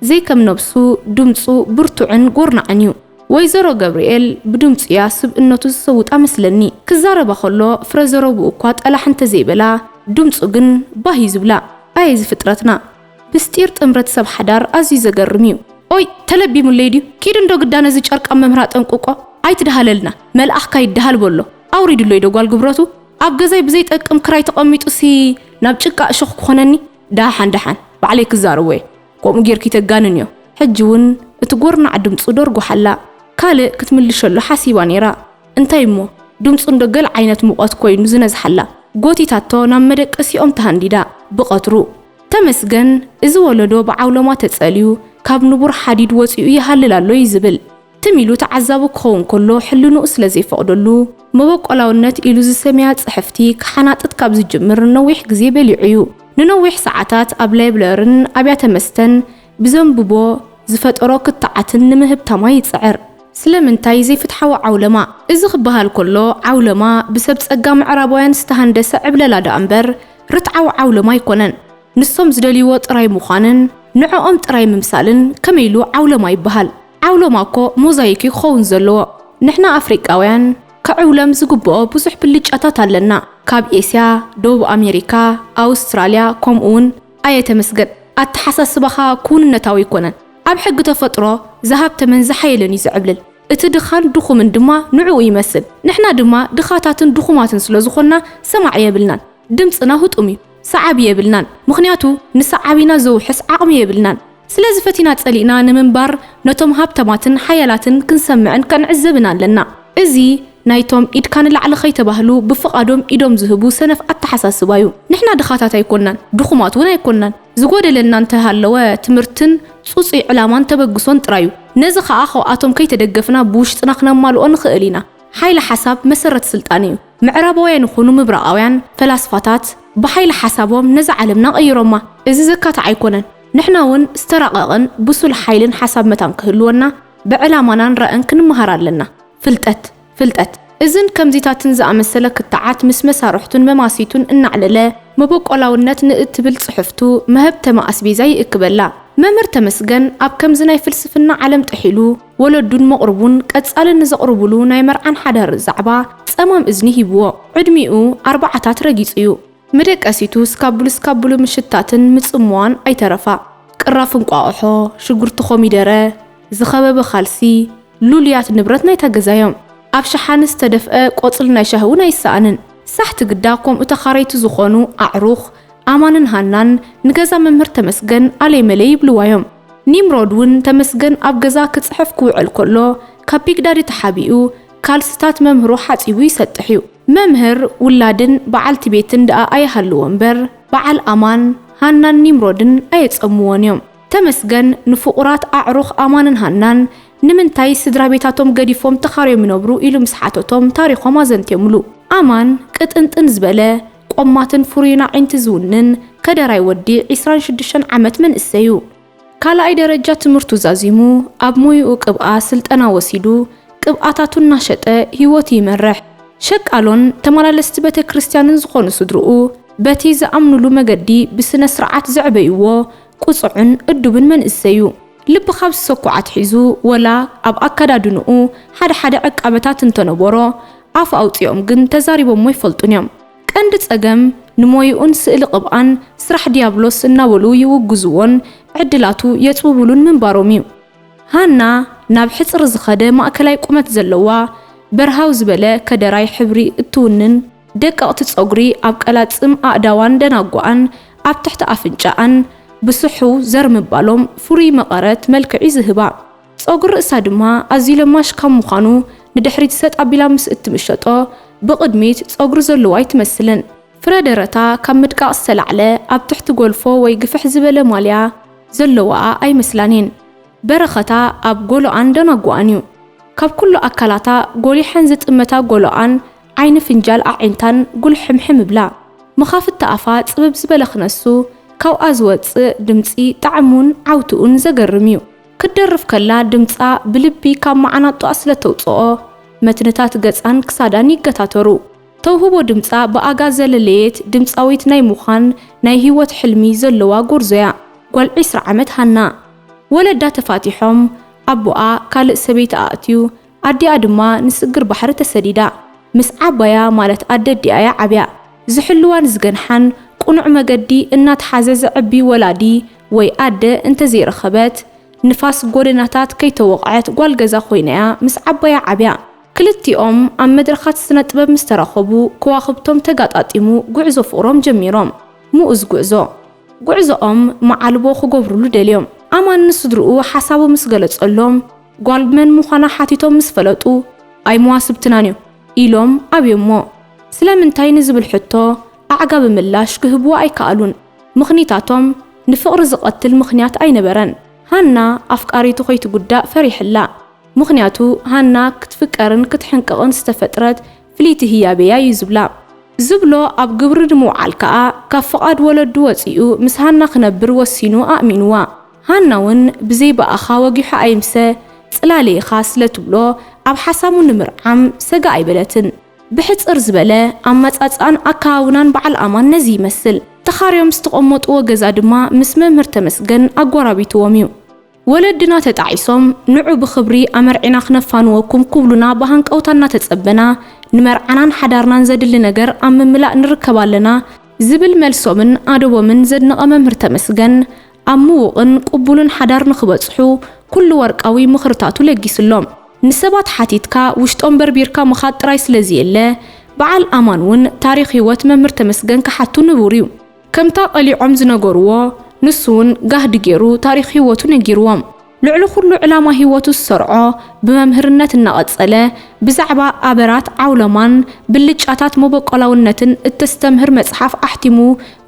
ዘይከም ነብሱ ድምጹ ብርቱዕን ጎርናዕን እዩ። ወይዘሮ ገብርኤል ብድምጹ እያ ስብእነቱ ዝሰውጣ መስለኒ ክዛረባ ከሎ ፍረ ዘረብኡ እኳ ጠላሕ እንተዘይበላ ድምጹ ግን ባህ እዩ ዝብላ ኣየ እዚ ፍጥረትና። ምስጢር ጥምረት ሰብ ሓዳር ኣዝዩ ዘገርም እዩ። ኦይ ተለቢሙለይ ድዩ ኪድ እንዶ ግዳ ነዚ ጨርቃም መምህር ኣጠንቁቆ ኣይትድሃለልና መልኣኽካ ይድሃል በሎ ኣውሪድሎይ ዶ ጓል ግብረቱ ኣብ ገዛይ ብዘይ ጠቅም ክራይ ተቀሚጡ ሲ ናብ ጭቃ እሾኽ ክኾነኒ ዳሓን ዳሓን ባዕለይ ክዛረቦ እየ ኮምኡ ጌርኪ ተጋንን እዮ ሕጂ ውን እቲ ጎርናዕ ድምጹ ደርጉሓላ ካልእ ክትምልሸሉ ሓሲባ ኔራ እንታይ እሞ ድምጹ እንዶ ገል ዓይነት ሙቆት ኮይኑ ዝነዝሓላ ጎቲታቶ ናብ መደቀሲኦም ተሃንዲዳ ብቀትሩ ተመስገን እዚ ወለዶ ብዓውሎማ ተጸልዩ ካብ ንቡር ሓዲድ ወጺኡ ይሃልል ኣሎ እዩ ዝብል። ትም ኢሉ ተዓዛቢ ክኸውን ከሎ ሕልንኡ ስለ ዘይፈቕደሉ መበቆላውነት ኢሉ ዝሰምያ ጽሕፍቲ ክሓናጥጥ ካብ ዝጅምር ነዊሕ ግዜ በሊዑ እዩ። ንነዊሕ ሰዓታት ኣብ ላይብለርን ኣብያተ መስተን ብዘንብቦ ዝፈጠሮ ክትዓትን ንምህብታማ ይጽዕር። ስለምንታይ ዘይፍትሓዊ ዓውለማ? እዚ ክበሃል ከሎ ዓውለማ ብሰብ ጸጋ ምዕራባውያን ዝተሃንደሰ ዕብለላ ደኣምበር ርትዓዊ ዓውሎማ ኣይኮነን። ንሶም ዝደልይዎ ጥራይ ምዃንን ንዕኦም ጥራይ ምምሳልን ከመይ ኢሉ ዓውሎማ ይበሃል? ዓውሎማ እኮ ሞዛይክ እዩ ክኸውን ዘለዎ። ንሕና ኣፍሪቃውያን ክዕውለም ዝግብኦ ብዙሕ ብልጫታት ኣለና። ካብ ኤስያ፣ ደቡብ ኣሜሪካ፣ ኣውስትራልያ ከምኡውን። ኣየ ተመስገን፣ ኣተሓሳስባኻ ክውንነታዊ ኣይኮነን። ኣብ ሕጊ ተፈጥሮ ዝሃብተመን ዝሓየለን እዩ ዝዕብልል። እቲ ድኻን ድኹምን ድማ ንዕኡ ይመስል። ንሕና ድማ ድኻታትን ድኹማትን ስለ ዝኾንና ሰማዒ የብልናን። ድምጽና ህጡም እዩ። ሰዓቢ የብልናን። ምኽንያቱ ንሰዓቢና ዘውሕስ ዓቕሚ የብልናን። ስለዚ ፈቲና ጸሊእና ንምንባር ነቶም ሃብታማትን ሓያላትን ክንሰምዕን ከንዕዘብን ኣለና። እዚ ናይቶም ኢድካ ንላዕሊ ከይተባህሉ ብፍቓዶም ኢዶም ዝህቡ ሰነፍ ኣተሓሳስባ እዩ። ንሕና ድኻታት ኣይኮንናን። ድኹማት እውን ኣይኮንናን። ዝጎደለና እንተሃለወ ትምህርትን ጽጹይ ዕላማን ተበግሶን ጥራይ እዩ። ነዚ ከኣ ካብኣቶም ከይተደገፍና ብውሽጥና ክነማልኦ ንኽእል ኢና። ሓይሊ ሓሳብ መሰረት ስልጣን እዩ። ምዕራባውያን ይኹኑ ምብራቓውያን ፈላስፋታት ብሓይሊ ሓሳቦም ነዛ ዓለምና ቀይሮማ። እዚ ዘካትዕ ኣይኮነን። ንሕና እውን ዝተራቐቐን ብሱል ሓይልን ሓሳብ መታን ክህልወና ብዕላማናን ራእን ክንመሃር ኣለና። ፍልጠት። ፍልጠት እዝን ከምዚታትን ዝኣመሰለ ክትዓት ምስ መሳርሕቱን መማስይቱን እናዕለለ መበቆላውነት ንእትብል ጽሕፍቱ መሀብተማ ኣስቤዛ ይእክበላ። መምህር ተመስገን ኣብ ከምዚ ናይ ፍልስፍና ዓለም ጥሒሉ ወለዱን መቕርቡን ቀጻሊ ንዘቕርቡሉ ናይ መርዓን ሓዳርን ዛዕባ ጸማም እዝኒ ሂብዎ ዕድሚኡ ኣርባዓታት ረጊጹ'ዩ። መደቀሲቱ ስካቡሉ ስካቡሉ ምሽታትን ምጽምዋን ኣይተረፋ። ቅራፍ እንቋቑሖ፣ ሽጉርቲ ኮሚደረ፣ ዝኸበበ ካልሲ፣ ሉሉያት ንብረት ናይታ ገዛ እዮም። ኣብ ሸሓኒ ዝተደፍኣ ቆጽሊ ናይ ሻሂ እውን ኣይሰኣንን። ሳሕቲ ግዳ ከምኡ ተኻረይቲ ዝኾኑ ኣዕሩኽ ኣማንን ሃናን ንገዛ መምህር ተመስገን ኣለይመለይ ይብልዋ እዮም። ኒምሮድ እውን ተመስገን ኣብ ገዛ ክጽሕፍ ክውዕል ከሎ ካብ ቢግዳዲ ተሓቢኡ ካልስታት መምህሩ ሓጺቡ ይሰጥሕ እዩ። መምህር፣ ውላድን በዓልቲ ቤትን ደኣ ኣይሃልዎ እምበር በዓል ኣማን፣ ሃናን ኒምሮድን ኣየጸምዎን እዮም። ተመስገን ንፍቑራት ኣዕሩኽ ኣማንን ሃናን ንምንታይ ስድራቤታቶም ገዲፎም ተኻርዮም ይነብሩ ኢሉ ምስ ሓተቶም ታሪኾም ኣዘንትዮምሉ። ኣማን ቅጥንጥን ዝበለ፣ ቆማትን ፍሩይን ኣዒንቲ ዝውንን ከደራይ ወዲ ዕስራን ሽዱሽተን ዓመት መንእሰይ'ዩ። ካልኣይ ደረጃ ትምህርቱ ዛዚሙ ኣብ ሞይኡ ቅብኣ ስልጠና ወሲዱ ቅብኣታቱ እናሸጠ ህይወቱ ይመርሕ። ሸቃሎን ተመላለስቲ ቤተክርስትያንን ዝኾኑ ስድርኡ በቲ ዝኣምኑሉ መገዲ ብስነ-ስርዓት ዘዕበዩዎ ቁጹዕን እዱብን መንእሰይ እዩ። ልቢ ካብ ዝሰኩዕ ኣትሒዙ ወላ ኣብ ኣከዳድንኡ ሓደ ሓደ ዕቃበታት እንተነበሮ ኣፍ ኣውጺኦም ግን ተዛሪቦሞ ኣይፈልጡን እዮም። ቀንዲ ጸገም ንሞይኡን ስእሊ ቅብኣን ስራሕ ድያብሎስ እናበሉ ይውግዝዎን ዕድላቱ የጽብብሉን ምንባሮም እዩ። ሃና ናብ ሕጽር ዝኸደ ማእከላይ ቁመት ዘለዋ፣ በርሃው ዝበለ ከደራይ ሕብሪ እትውንን፣ ደቀቕቲ ጸጉሪ ኣብ ቀላጽም ኣእዳዋን ደናጉኣን ኣብ ትሕቲ ኣፍንጫኣን ብስሑው ዘር ምባሎም ፍሩይ መቐረት መልክዕ'ዩ ዝህባ። ጸጉሪ ርእሳ ድማ ኣዝዩ ለማሽ ካብ ምዃኑ ንድሕሪት ሰጥ ኣቢላ ምስ እትምሸጦ፣ ብቕድሚት ጸጉሪ ዘለዎ ኣይትመስልን። ፍረ ደረታ ካብ ምድቃቕ ዝተላዕለ ኣብ ትሕቲ ጎልፎ ወይ ግፍሕ ዝበለ ማልያ ዘለዋኣ ኣይመስላን እየን። በረኸታ ኣብ ጎሎኣን ደናጉኣን እዩ። ካብ ኩሉ ኣካላታ ጎሊሐን ዝጥመታ ጎሎኣን፣ ዓይኒ ፍንጃል ኣዒንታን ጉልሕምሕም እብላ። መኻፍቲ ኣፋ ጽብብ ዝበለ ክነሱ ካብኣ ዝወጽእ ድምጺ ጣዕሙን ዓውትኡን ዘገርም እዩ። ክትደርፍ ከላ ድምጻ ብልቢ ካብ መዓናጡኣ ስለ እተውጽኦ፣ መትንታት ገጻን ክሳዳን ይገታተሩ። ተውህቦ ድምጻ ብኣጋ ዘለለየት ድምጻዊት ናይ ምዃን ናይ ህይወት ሕልሚ ዘለዋ ጎርዞ'ያ ጓል ዕስራ ዓመት ሃና። ወለዳ ተፋቲሖም፣ ኣቦኣ ካልእ ሰበይቲ ኣእትዩ፣ ኣዲኣ ድማ ንስግር ባሕሪ ተሰዲዳ ምስ ዓባያ ማለት ኣደዲኣ'ያ ዓብያ። ዝሕልዋን ዝገንሓን ቅኑዕ መገዲ እናትሓዘ ዘዕቢ ወላዲ ወይ ኣደ እንተዘይረኸበት፣ ንፋስ ጎደናታት ከይተወቕዐት ጓል ገዛ ኮይና'ያ ምስ ዓባያ ዓብያ። ክልቲኦም ኣብ መድረኻት ስነጥበብ ምስ ተራኸቡ ከዋኽብቶም ተጋጣጢሙ ጉዕዞ ፍቕሮም ጀሚሮም። ምኡዝ ጉዕዞ። ጉዕዞኦም መዓልቦ ክገብሩሉ ደልዮም። ኣማን ንስድርኡ ሓሳቡ ምስ ገለጸሎም ጓል መን ምዃና ሓቲቶም ምስ ፈለጡ ኣይ መዋስብትናን እዩ ኢሎም ኣብዮሞ። ስለምንታይ ንዝብል ሕቶ ኣዕጋቢ ምላሽ ክህብዎ ኣይከኣሉን። ምኽኒታቶም ንፍቕሪ ዝቐትል ምኽንያት ኣይነበረን። ሃና ኣፍቃሪቱ ከይትጉዳእ ፈሪሕላ ምኽንያቱ ሃና ክትፍቀርን ክትሕንቅቕን ዝተፈጥረት ፍልይቲ ህያብ እያ እዩ ዝብላ። ዝብሎ ኣብ ግብሪ ንምውዓል ከኣ ካብ ፍቓድ ወለዱ ወጺኡ ምስ ሃና ክነብር ወሲኑ ኣእሚንዋ። ሃና ውን ብዘይ ብኣኻ ወጊሑ ኣይምሰ ጽላለ ኢኻ ስለ ትብሎ ኣብ ሓሳቡ ንምርዓም ሰጋእ ኣይበለትን። ብሕጽር ዝበለ ኣመጻጽኣን ኣከባብናን በዓል ኣማን ነዚ ይመስል። ተኻርዮም ዝተቐመጥዎ ገዛ ድማ ምስ መምህር ተመስገን ኣጎራቢትዎም እዩ። ወለድና ተጣዒሶም ንዑ ብኽብሪ ኣመርዒና ክነፋንወኩም ኩብሉና ብሃንቀውታ እናተጸበና ንመርዓናን ሓዳርናን ዘድሊ ነገር ኣብ ምምላእ ንርከብ ኣለና ዝብል መልሶምን ኣደቦምን ዘድነቐ መምህር ተመስገን ኣብ ምዉቕን ቁቡልን ሓዳር ንኽበጽሑ ኩሉ ወርቃዊ ምኽርታቱ ለጊስሎም ንሰባት ሓቲትካ ውሽጦም በርቢርካ ምኻድ ጥራይ ስለዝየለ በዓል ኣማን ውን ታሪኽ ሂወት መምህር ተመስገን ክሓቱ ንቡር ዩ። ከምታ ቀሊዖም ዝነገርዎ ንሱ ውን ጋህዲ ጌሩ ታሪኽ ሂወቱ ነጊርዎም። ልዕሊ ኩሉ ዕላማ ሂወቱ ዝሰርዖ ብመምህርነት እናቐጸለ ብዛዕባ ኣበራት ዓውሎማን ብልጫታት መቦቆላውነትን እተስተምህር መጽሓፍ ኣሕቲሙ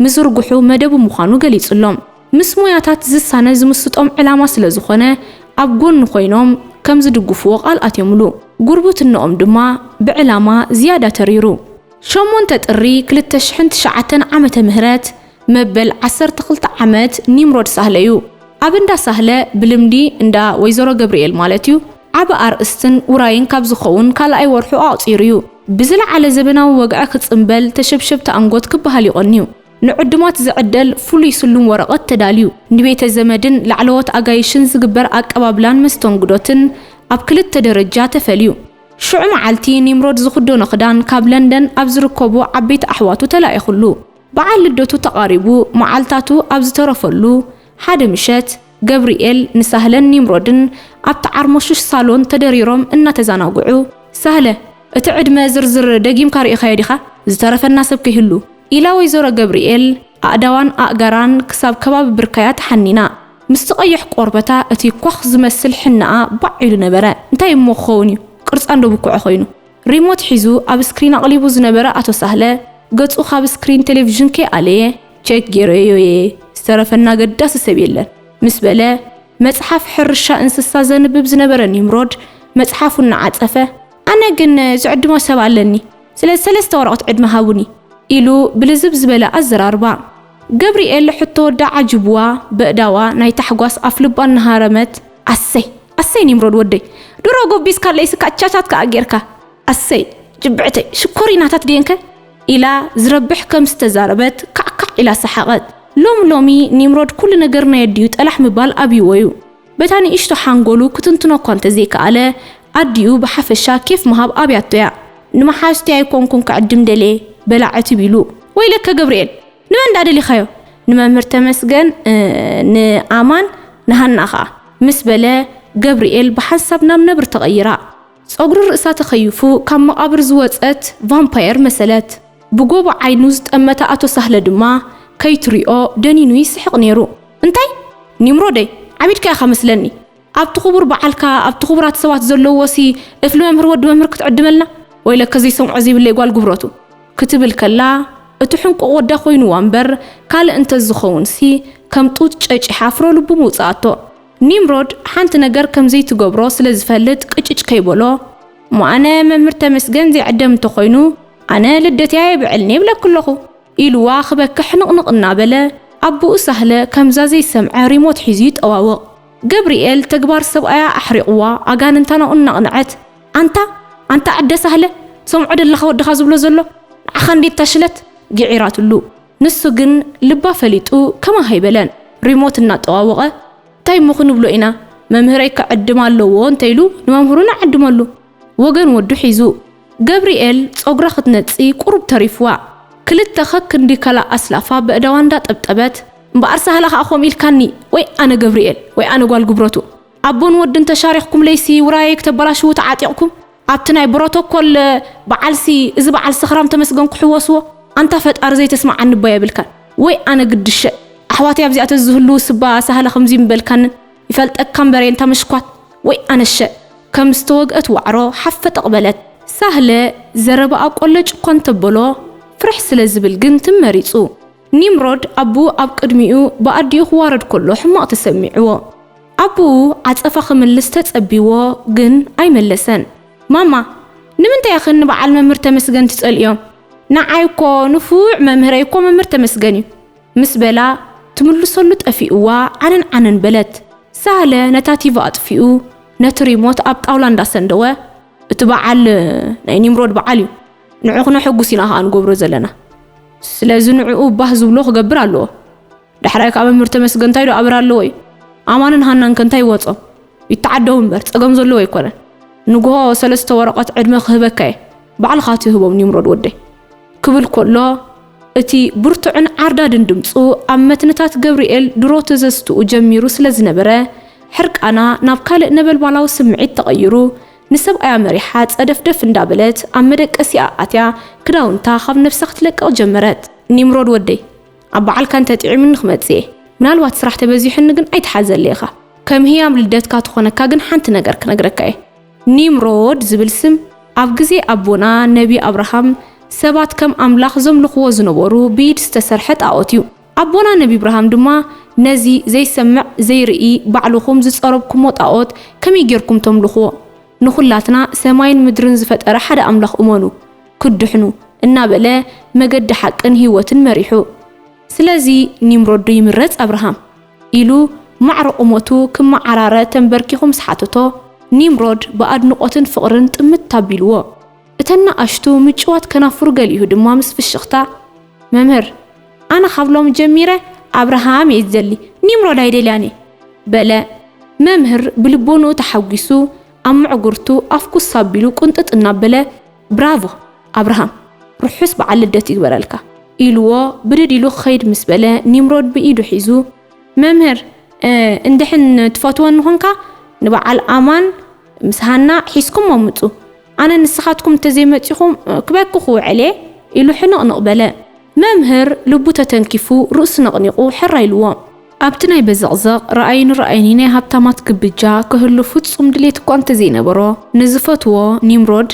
ምዝርግሑ መደቡ ምዃኑ ገሊጽሎም። ምስ ሞያታት ዝሳነ ዝምስጦም ዕላማ ስለ ዝኾነ ኣብ ጎኑ ኮይኖም ከም ዝድግፍዎ ቃል ኣትዮምሉ። ጉርብትንኦም ድማ ብዕላማ ዝያዳ ተሪሩ። ሸሞንተ ጥሪ ክልተ ሽሕን ትሽዓተን ዓመተ ምህረት መበል ዓሰርተ ክልተ ዓመት ኒምሮድ ሳህለ እዩ። ኣብ እንዳ ሳህለ፣ ብልምዲ እንዳ ወይዘሮ ገብርኤል ማለት እዩ፣ ዓቢ ኣርእስትን ውራይን ካብ ዝኸውን ካልኣይ ወርሑ ኣቑጺሩ እዩ። ብዝለዓለ ዘበናዊ ወግዒ ክጽምበል፣ ተሸብሸብቲ ኣንጎት ክበሃል ይቐንዩ። ንዕዱማት ዝዕደል ፍሉይ ስሉም ወረቐት ተዳልዩ፣ ንቤተ ዘመድን ላዕለዎት ኣጋይሽን ዝግበር ኣቀባብላን መስተንግዶትን ኣብ ክልተ ደረጃ ተፈልዩ። ሽዑ መዓልቲ ኒምሮድ ዝኽደኖ ክዳን ካብ ለንደን ኣብ ዝርከቡ ዓበይቲ ኣሕዋቱ ተላኢኹሉ። በዓል ልደቱ ተቓሪቡ መዓልታቱ ኣብ ዝተረፈሉ ሓደ ምሸት፣ ገብርኤል ንሳህለን ኒምሮድን ኣብቲ ዓርሞሽሽ ሳሎን ተደሪሮም እናተዛናግዑ፣ ሳህለ፣ እቲ ዕድመ ዝርዝር ደጊምካ ርኢኻዮ ዲኻ? ዝተረፈና ሰብ ከይህሉ። ኢላ ወይዘሮ ገብርኤል ኣእዳዋን ኣእጋራን ክሳብ ከባቢ ብርካያ ተሓኒና። ምስቲ ቀይሕ ቆርበታ እቲ ኳኽ ዝመስል ሕነኣ ባዕ ኢሉ ነበረ። እንታይ እሞ ክኸውን እዩ ቅርጻ እንዶ ብኩዐ ኮይኑ። ሪሞት ሒዙ ኣብ ስክሪን ኣቕሊቡ ዝነበረ ኣቶ ሳህለ ገጹ ካብ ስክሪን ቴሌቪዥን ከይኣለየ ቸክ ጌረዮ'የ ዝተረፈኒ ኣገዳሲ ሰብ የለን ምስ በለ መጽሓፍ ሕርሻ እንስሳ ዘንብብ ዝነበረ ኒምሮድ መጽሓፉ እናዓጸፈ ኣነ ግን ዝዕድሞ ሰብ ኣለኒ ስለዚ ሰለስተ ወረቐት ዕድመ ሃቡኒ ኢሉ ብልዝብ ዝበለ ኣዘራርባ። ገብሪኤል ሕቶ ወዳ ዓጂቡዋ በእዳዋ ናይ ታሕጓስ ኣፍልባ እናሃረመት ኣሰይ ኣሰይ ኒምሮድ ወደይ ድሮ ጎቢዝካለይ ስካዕ ቻቻት ከኣ ጌርካ ኣሰይ ጅብዕተይ ሽኮሪናታት ድየንከ ኢላ ዝረብሕ ከም ዝተዛረበት ካዕካዕ ኢላ ሰሓቐት ሎሚ ሎሚ ኒምሮድ ኩሉ ነገር ናይ ኣዲኡ ጠላሕ ምባል ኣብዩዎዩ በታ ንእሽቶ ሓንጎሉ ክትንትኖ እኳ እንተዘይከኣለ፣ ኣዲኡ ብሓፈሻ ኬፍ ምሃብ ኣብያቶ እያ። ንመሓዙተይ ኣይኮንኩን ክዕድም ደልየ፣ በላ ዕትብ ኢሉ። ወይለከ ገብርኤል! ንመን ድኣ ደሊኻዮ? ንመምህር ተመስገን፣ ንኣማን፣ ንሃና ከኣ። ምስ በለ፣ ገብርኤል ብሓንሳብ ናብ ነብሪ ተቐይራ። ጸጉሪ ርእሳ ተኸዩፉ ካብ መቓብር ዝወጸት ቫምፓየር መሰለት። ብጎቦ ዓይኑ ዝጠመተ ኣቶ ሳህለ ድማ ከይትሪኦ ደኒኑ ይስሕቕ ነይሩ። እንታይ! ኒምሮደይ! ዓቢድካ ኢኻ መስለኒ። ኣብቲ ክቡር በዓልካ ኣብቲ ክቡራት ሰባት ዘለዉዎሲ እፍሊ መምህር ወዲ መምህር ክትዕድመልና? ወይለከ ዘይሰምዖ ዘይብለይ ጓል ጉብረቱ! ክትብል ከላ እቲ ሕንቁቕ ወዳ ኮይኑዋ እምበር ካልእ እንተዝኸውንሲ ከም ጡጥ ጨጪሓ ፍረ ልቡ ምውጸኣቶ። ኒምሮድ ሓንቲ ነገር ከም ዘይትገብሮ ስለ ዝፈልጥ ቅጭጭ ከይበሎ እሞ ኣነ መምህር ተመስገን ዘይዕደም እንተኾይኑ ኣነ ልደተይ ኣየብዕልን ይብለኪ ኣለኹ ኢሉዋ ክበኪ ሕንቕንቕ እናበለ ኣቡኡ ሳህለ ከምዛ ዘይሰምዐ ሪሞት ሒዙ ይጠዋወቕ። ገብሪኤል ተግባር ሰብኣያ ኣሕሪቑዋ ኣጋንንታ ናብኡ እናቕንዐት ኣንታ ኣንታ ዕደ ሳህለ ትሰምዖ ደለኻ ወድኻ ዝብሎ ዘሎ ንዓኻ እንድዩ እታ ሽለት! ግዒራትሉ። ንሱ ግን ልባ ፈሊጡ ከማኻ ኣይበለን ሪሞት እናጠዋወቐ ታይ እሞ ክንብሎ ኢና መምህረይ ክዕድም ኣለዎ እንተይሉ ንመምህሩ ንዓድመሉ ወገን ወዱ ሒዙ ገብሪኤል ፀጉራ ክትነፂ ቁሩብ ተሪፉዋ ክልተ ከክንዲ ከላእ ኣስላፋ በእዳዋ እንዳጠብጠበት እምበኣር ሳህላ ከዓ ከምኡ ኢልካኒ ወይ ኣነ ገብሪኤል ወይ ኣነ ጓል ጉብረቱ ኣቦን ወድን ተሻሪኽኩምለይሲ ውራየይ ክተበላሽዉ ተዓጢቕኩም ኣብቲ ናይ ብሮቶኮል በዓልሲ እዚ በዓል ሰኽራም ተመስገን ክሕወስዎ ኣንታ ፈጣሪ ዘይተስመዓኒ እባ የብልካን ወይ ኣነ ግዲ ሸእ ኣሕዋተይ ኣብዚኣ ተዝህልዉስ እባ ሳህለ ከምዙይ ምበልካንን ይፈልጠካ እምበሬ እንታ ምሽኳት ወይ ኣነ ሸእ ከም ዝተወግእት ዋዕሮ ሓፈጠቕ በለት። ሳህለ ዘረባኣ ቆለጭ እኳ እንተበሎ ፍርሕ ስለ ዝብል ግን ትም መሪጹ። ኒምሮድ ኣቡኡ ኣብ ቅድሚኡ ብኣዲኡ ክዋረድ ከሎ ሕማቕ ተሰሚዕዎ። ኣቡኡ ዓጸፋ ክምልስ ተጸብይዎ ግን ኣይመለሰን። ማማ ንምንታይ ኢኽን ንበዓል መምህር ተመስገን ትጸልእዮም ንዓይ እኮ ንፉዕ መምህረይ እኮ መምህር ተመስገን እዩ ምስ በላ ትምልሰሉ ጠፊእዋ ዓነን ዓነን በለት። ሳህለ ነታ ቲቪ ኣጥፊኡ ነቲ ሪሞት ኣብ ጣውላ እንዳሰንደወ እቲ በዓል ናይ ኒምሮድ በዓል እዩ ንዑ ክነሐጉስ ኢና ከኣ ንገብሮ ዘለና ስለዚ ንዕኡ ባህ ዝብሎ ክገብር ኣለዎ ዳሕራይ ከኣ መምህር ተመስገን እንታይ ዶ ኣብራ ኣለዎ እዩ ኣማንን ሃናን ከ እንታይ ይወጾም ይተዓደዉ እምበር ጸገም ዘለዎ ኣይኮነን ንግሆ ሰለስተ ወረቀት ዕድመ ክህበካ እየ ባዕልካ ትህቦም ኒምሮድ ወደይ ክብል ኮሎ እቲ ብርቱዕን ዓርዳድን ድምጹ ኣብ መትንታት ገብርኤል ድሮ ትዘዝትኡ ጀሚሩ ስለ ዝነበረ ሕርቃና ናብ ካልእ ነበልባላዊ ስምዒት ተቐይሩ ንሰብኣያ መሪሓ ጸደፍደፍ እንዳበለት ኣብ መደቀሲኣ ኣትያ ክዳውንታ ካብ ነብሳ ክትለቅቕ ጀመረት ኒምሮድ ወደይ ኣብ በዓልካ እንተ ጥዒሙኒ ክመጽእ እየ ምናልባት ስራሕ ተበዚሑኒ ግን ኣይትሓዘለይ ኢኻ ከም ህያብ ልደትካ ትኾነካ ግን ሓንቲ ነገር ክነግረካ እየ ኒምሮድ ዝብል ስም ኣብ ግዜ ኣቦና ነቢ ኣብርሃም ሰባት ከም ኣምላኽ ዘምልኽዎ ዝነበሩ ብኢድ ዝተሰርሐ ጣኦት እዩ ኣቦና ነቢ ብርሃም ድማ ነዚ ዘይሰምዕ ዘይርኢ ባዕልኹም ዝጸረብኩሞ ጣኦት ከመይ ጌርኩም ተምልኽዎ ንኹላትና ሰማይን ምድርን ዝፈጠረ ሓደ ኣምላኽ እመኑ ክትድሕኑ እናበለ መገዲ ሓቅን ህይወትን መሪሑ። ስለዚ ኒምሮድ ዶ ይምረጽ ኣብርሃም? ኢሉ ማዕረ ቁመቱ ክመዓራረ ተንበርኪኹ ምስ ሓተቶ፣ ኒምሮድ ብኣድንቖትን ፍቕርን ጥምት ኣቢልዎ። እተን ንኣሽቱ ምጭዋት ከናፍሩ ገሊኡ ድማ ምስ ፍሽኽታ፣ መምህር፣ ኣነ ካብ ሎሚ ጀሚረ ኣብርሃም እየ ዝደሊ፣ ኒምሮድ ኣይደልያን እየ! በለ። መምህር ብልቦንኡ ተሓጒሱ፣ ኣብ ምዕጉርቱ ኣፍ ኩስ ኣቢሉ ቁንጥጥ እናበለ፣ ብራቮ! ኣብርሃም! ርሑስ በዓል ልደት ይግበረልካ! ኢሉዎ ብድድ ኢሉ ክኸይድ ምስ በለ፣ ኒምሮድ ብኢዱ ሒዙ፣ መምህር፣ እንድሕን ትፈትወኒ ኾንካ ንበዓል ኣማን፣ ምስ ሃና ሒዝኩሞ ምጹ፣ ኣነ ንስኻትኩም እንተዘይመጺኹም ክበኪ ክውዕል'የ ኢሉ ሕንቕንቕ በለ። መምህር ልቡ ተተንኪፉ ርእሱ ነቕኒቑ ሕራይ ኢሉዎ። ኣብቲ ናይ በዘቕዘቕ ርኣዩኒ-ርኣዩኒ ናይ ሃብታማት ግብጃ ክህሉ ፍጹም ድሌት እኳ እንተዘይነበሮ፣ ንዝፈትዎ ኒምሮድ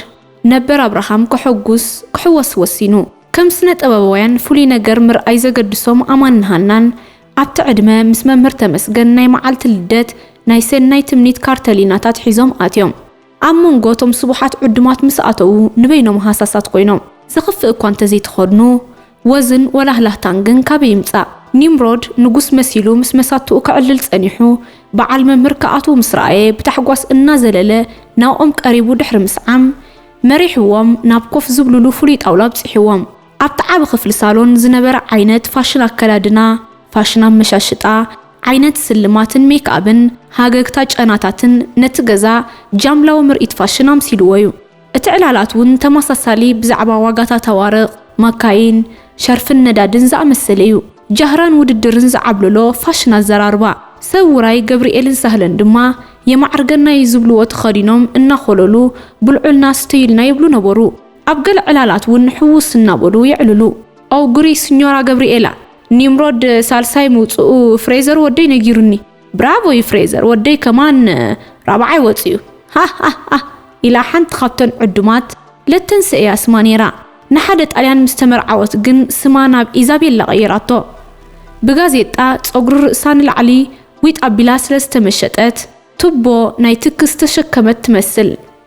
ነበር ኣብርሃም ከሐጉስ ክሕወስ ወሲኑ። ከም ስነ-ጥበባውያን ፍሉይ ነገር ምርኣይ ዘገድሶም ኣማንን ሃናን፣ ኣብቲ ዕድመ ምስ መምህር ተመስገን ናይ መዓልቲ ልደት ናይ ሰናይ ትምኒት ካርተሊናታት ሒዞም ኣትዮም። ኣብ መንጎ እቶም ስቡሓት ዕዱማት ምስ ኣተዉ ንበይኖም ሃሳሳት ኮይኖም። ዘኽፍእ እኳ እንተዘይተኸድኑ፣ ወዝን ወላህላህታን ግን ካበይ ይምጻእ? ኒምሮድ ንጉስ መሲሉ ምስ መሳቱኡ ከዕልል ጸኒሑ፣ በዓል መምህር ክኣትዉ ምስ ረኣየ ብታሕጓስ እናዘለለ ናብኦም ቀሪቡ ድሕሪ ምስዓም፣ መሪሕዎም ናብ ኮፍ ዝብሉሉ ፍሉይ ጣውላ ኣብጺሕዎም። ኣብቲ ዓቢ ክፍሊ ሳሎን ዝነበረ ዓይነት ፋሽን ኣከዳድና፣ ፋሽን ኣመሻሽጣ፣ ዓይነት ስልማትን ሜክኣብን፣ ሃገግታ ጨናታትን ነቲ ገዛ ጃምላዊ ምርኢት ፋሽን ኣምሲልዎ'ዩ። እቲ ዕላላት'ውን ተመሳሳሊ ብዛዕባ ዋጋታት ኣዋርቕ፣ ማካይን፣ ሸርፍን ነዳድን ዝኣመሰለ'ዩ። ጃህራን ውድድርን ዝዓብለሎ ፋሽን ኣዘራርባ። ሰብ ውራይ ገብርኤልን ሳህለን ድማ የማዕርገና'ዩ ዝብልዎ ተኸዲኖም እናኾለሉ ብልዑልና ስተዩልና ይብሉ ነበሩ። ኣብ ገለ ዕላላት ውን ሕውስ እናበሉ የዕልሉ። ኣውግሪ ስኞራ ገብሪኤላ። ኒምሮድ ሳልሳይ ምውጽኡ ፍሬዘር ወደይ ነጊሩኒ። ብራቮ ዩ ፍሬዘር ወደይ ከማን ራብዓይ ወጺኡ። ሃህሃህ ኢላ ሓንቲ ካብተን ዕዱማት ለተንሰ ኢያ ስማ ኔራ። ንሓደ ጣልያን ምስ ተመርዓወት ግን ስማ ናብ ኢዛቤላ ቀይራቶ። ብጋዜጣ ጸጉሪ ርእሳ ንላዕሊ ዊጥ ኣቢላ ስለ ዝተመሸጠት ቱቦ ናይ ትኪ ዝተሸከመት ትመስል።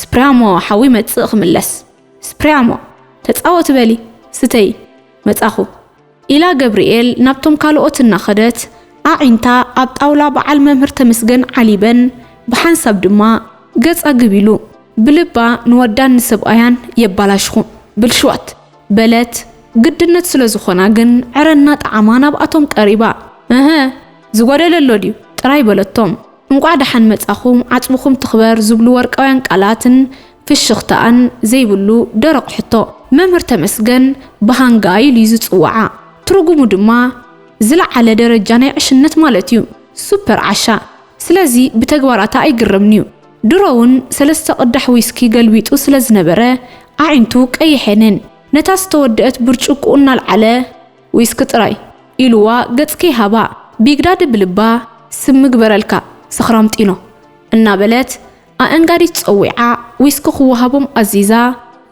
ስፕርያሞ ሓው ይመጽእ ክምለስ ስፕርያሞ ተጻወቲ በሊ ስተዪ መጻኹ ኢላ ገብርኤል ናብቶም ካልኦት እናኸደት ኣዒንታ ኣብ ጣውላ በዓል መምህር ተመስገን ዓሊበን ብሓንሳብ ድማ ገጻ ግብ ኢሉ። ብልባ ንወዳን ንሰብኣያን የባላሽኹም ብልሽዋት በለት ግድነት ስለ ዝኾና ግን ዕረ እናጠዓማ ናብኣቶም ቀሪባ እህ ዝጎደለ ኣሎ ድዩ ጥራይ በለቶም። እንቋዕ ደሓን መጻኹም ዓጽምኹም ትኽበር ዝብሉ ወርቃውያን ቃላትን ፍሽኽታኣን ዘይብሉ ደረቕ ሕቶ። መምህር ተመስገን ብሃንጋይ ኢሉ'ዩ ዝጽውዓ። ትርጉሙ ድማ ዝለዓለ ደረጃ ናይ ዕሽነት ማለት'ዩ። ሱፐር ዓሻ። ስለዚ ብተግባራታ ኣይግረምን'ዩ። ድሮ'ውን ሰለስተ ቅዳሕ ዊስኪ ገልቢጡ ስለ ዝነበረ ኣዒንቱ ቀይሐንን። ነታ ዝተወደእት ብርጭቁኡ እናልዓለ። ዊስኪ ጥራይ ኢሉዋ ገጽ ከይሃባ ቢግዳዲ ብልባ ስም ምግበረልካ ሰኽራም ጢኖ እናበለት ኣእንጋዲ ጸዊዓ ዊስኪ ክወሃቦም ኣዚዛ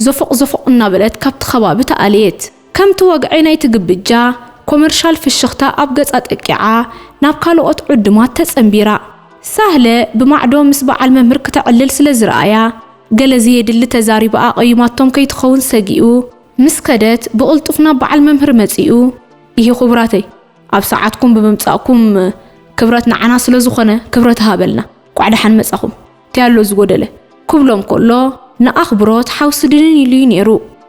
ዞፎቕ ዞፎቕ እናበለት ካብቲ ከባቢ ተኣለየት። ከምቲ ወግዒ ናይቲ ግብጃ ኮመርሻል ፍሽኽታ ኣብ ገጻ ጠቂዓ ናብ ካልኦት ዕዱማት ተጸንቢራ። ሳህለ ብማዕዶ ምስ በዓል መምህር ክተዕልል ስለ ዝረኣያ ገለ ዘየድሊ ተዛሪባ ኣቐይማቶም ከይትኸውን ሰጊኡ ምስ ከደት ብቕልጡፍ ናብ በዓል መምህር መጺኡ፣ ኢሂ ኩቡራተይ ኣብ ሰዓትኩም ብምምጻእኩም ክብረት ንዓና ስለ ዝኾነ ክብረት ሃበልና፣ ኳዕ ደሓን መጻኹም፣ ታይ ኣሎ ዝጎደለ? ክብሎም ከሎ ንኣኽብሮት ሓው ስድንን ኢሉ'ዩ ኔሩ።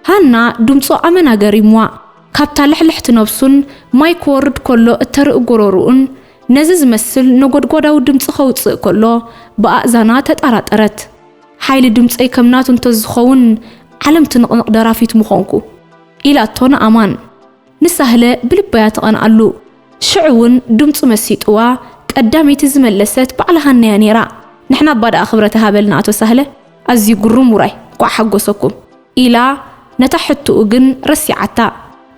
ሃና ድምጹ ኣመና ገሪምዋ፣ ካብታ ልሕልሕቲ ነብሱን ማይ ክወርድ ከሎ እተርኢ ጎረርኡን ነዚ ዝመስል ነጎድጓዳዊ ድምጺ ከውጽእ ከሎ ብኣእዛና ተጣራጠረት። ሓይሊ ድምጸይ ከም ናቱ እንተዝኸውን ዓለም ትንቕንቕ ደራፊት ምኾንኩ ኢላቶ ንኣማን። ንሳህለ ብልባ'ያ ትቐንኣሉ። ሽዑ'ውን ድምጹ መሲጡዋ ቀዳመይቲ ዝመለሰት ባዕላ ሃና'ያ ነይራ። ንሕና'ባ ደኣ ክብረት ይሃበልና ኣቶ ሳህለ ኣዝዩ ግሩም ውራይ እንቋዕ ሓጎሰኩም ኢላ ነታ ሕቱኡ ግን ረሲዓታ።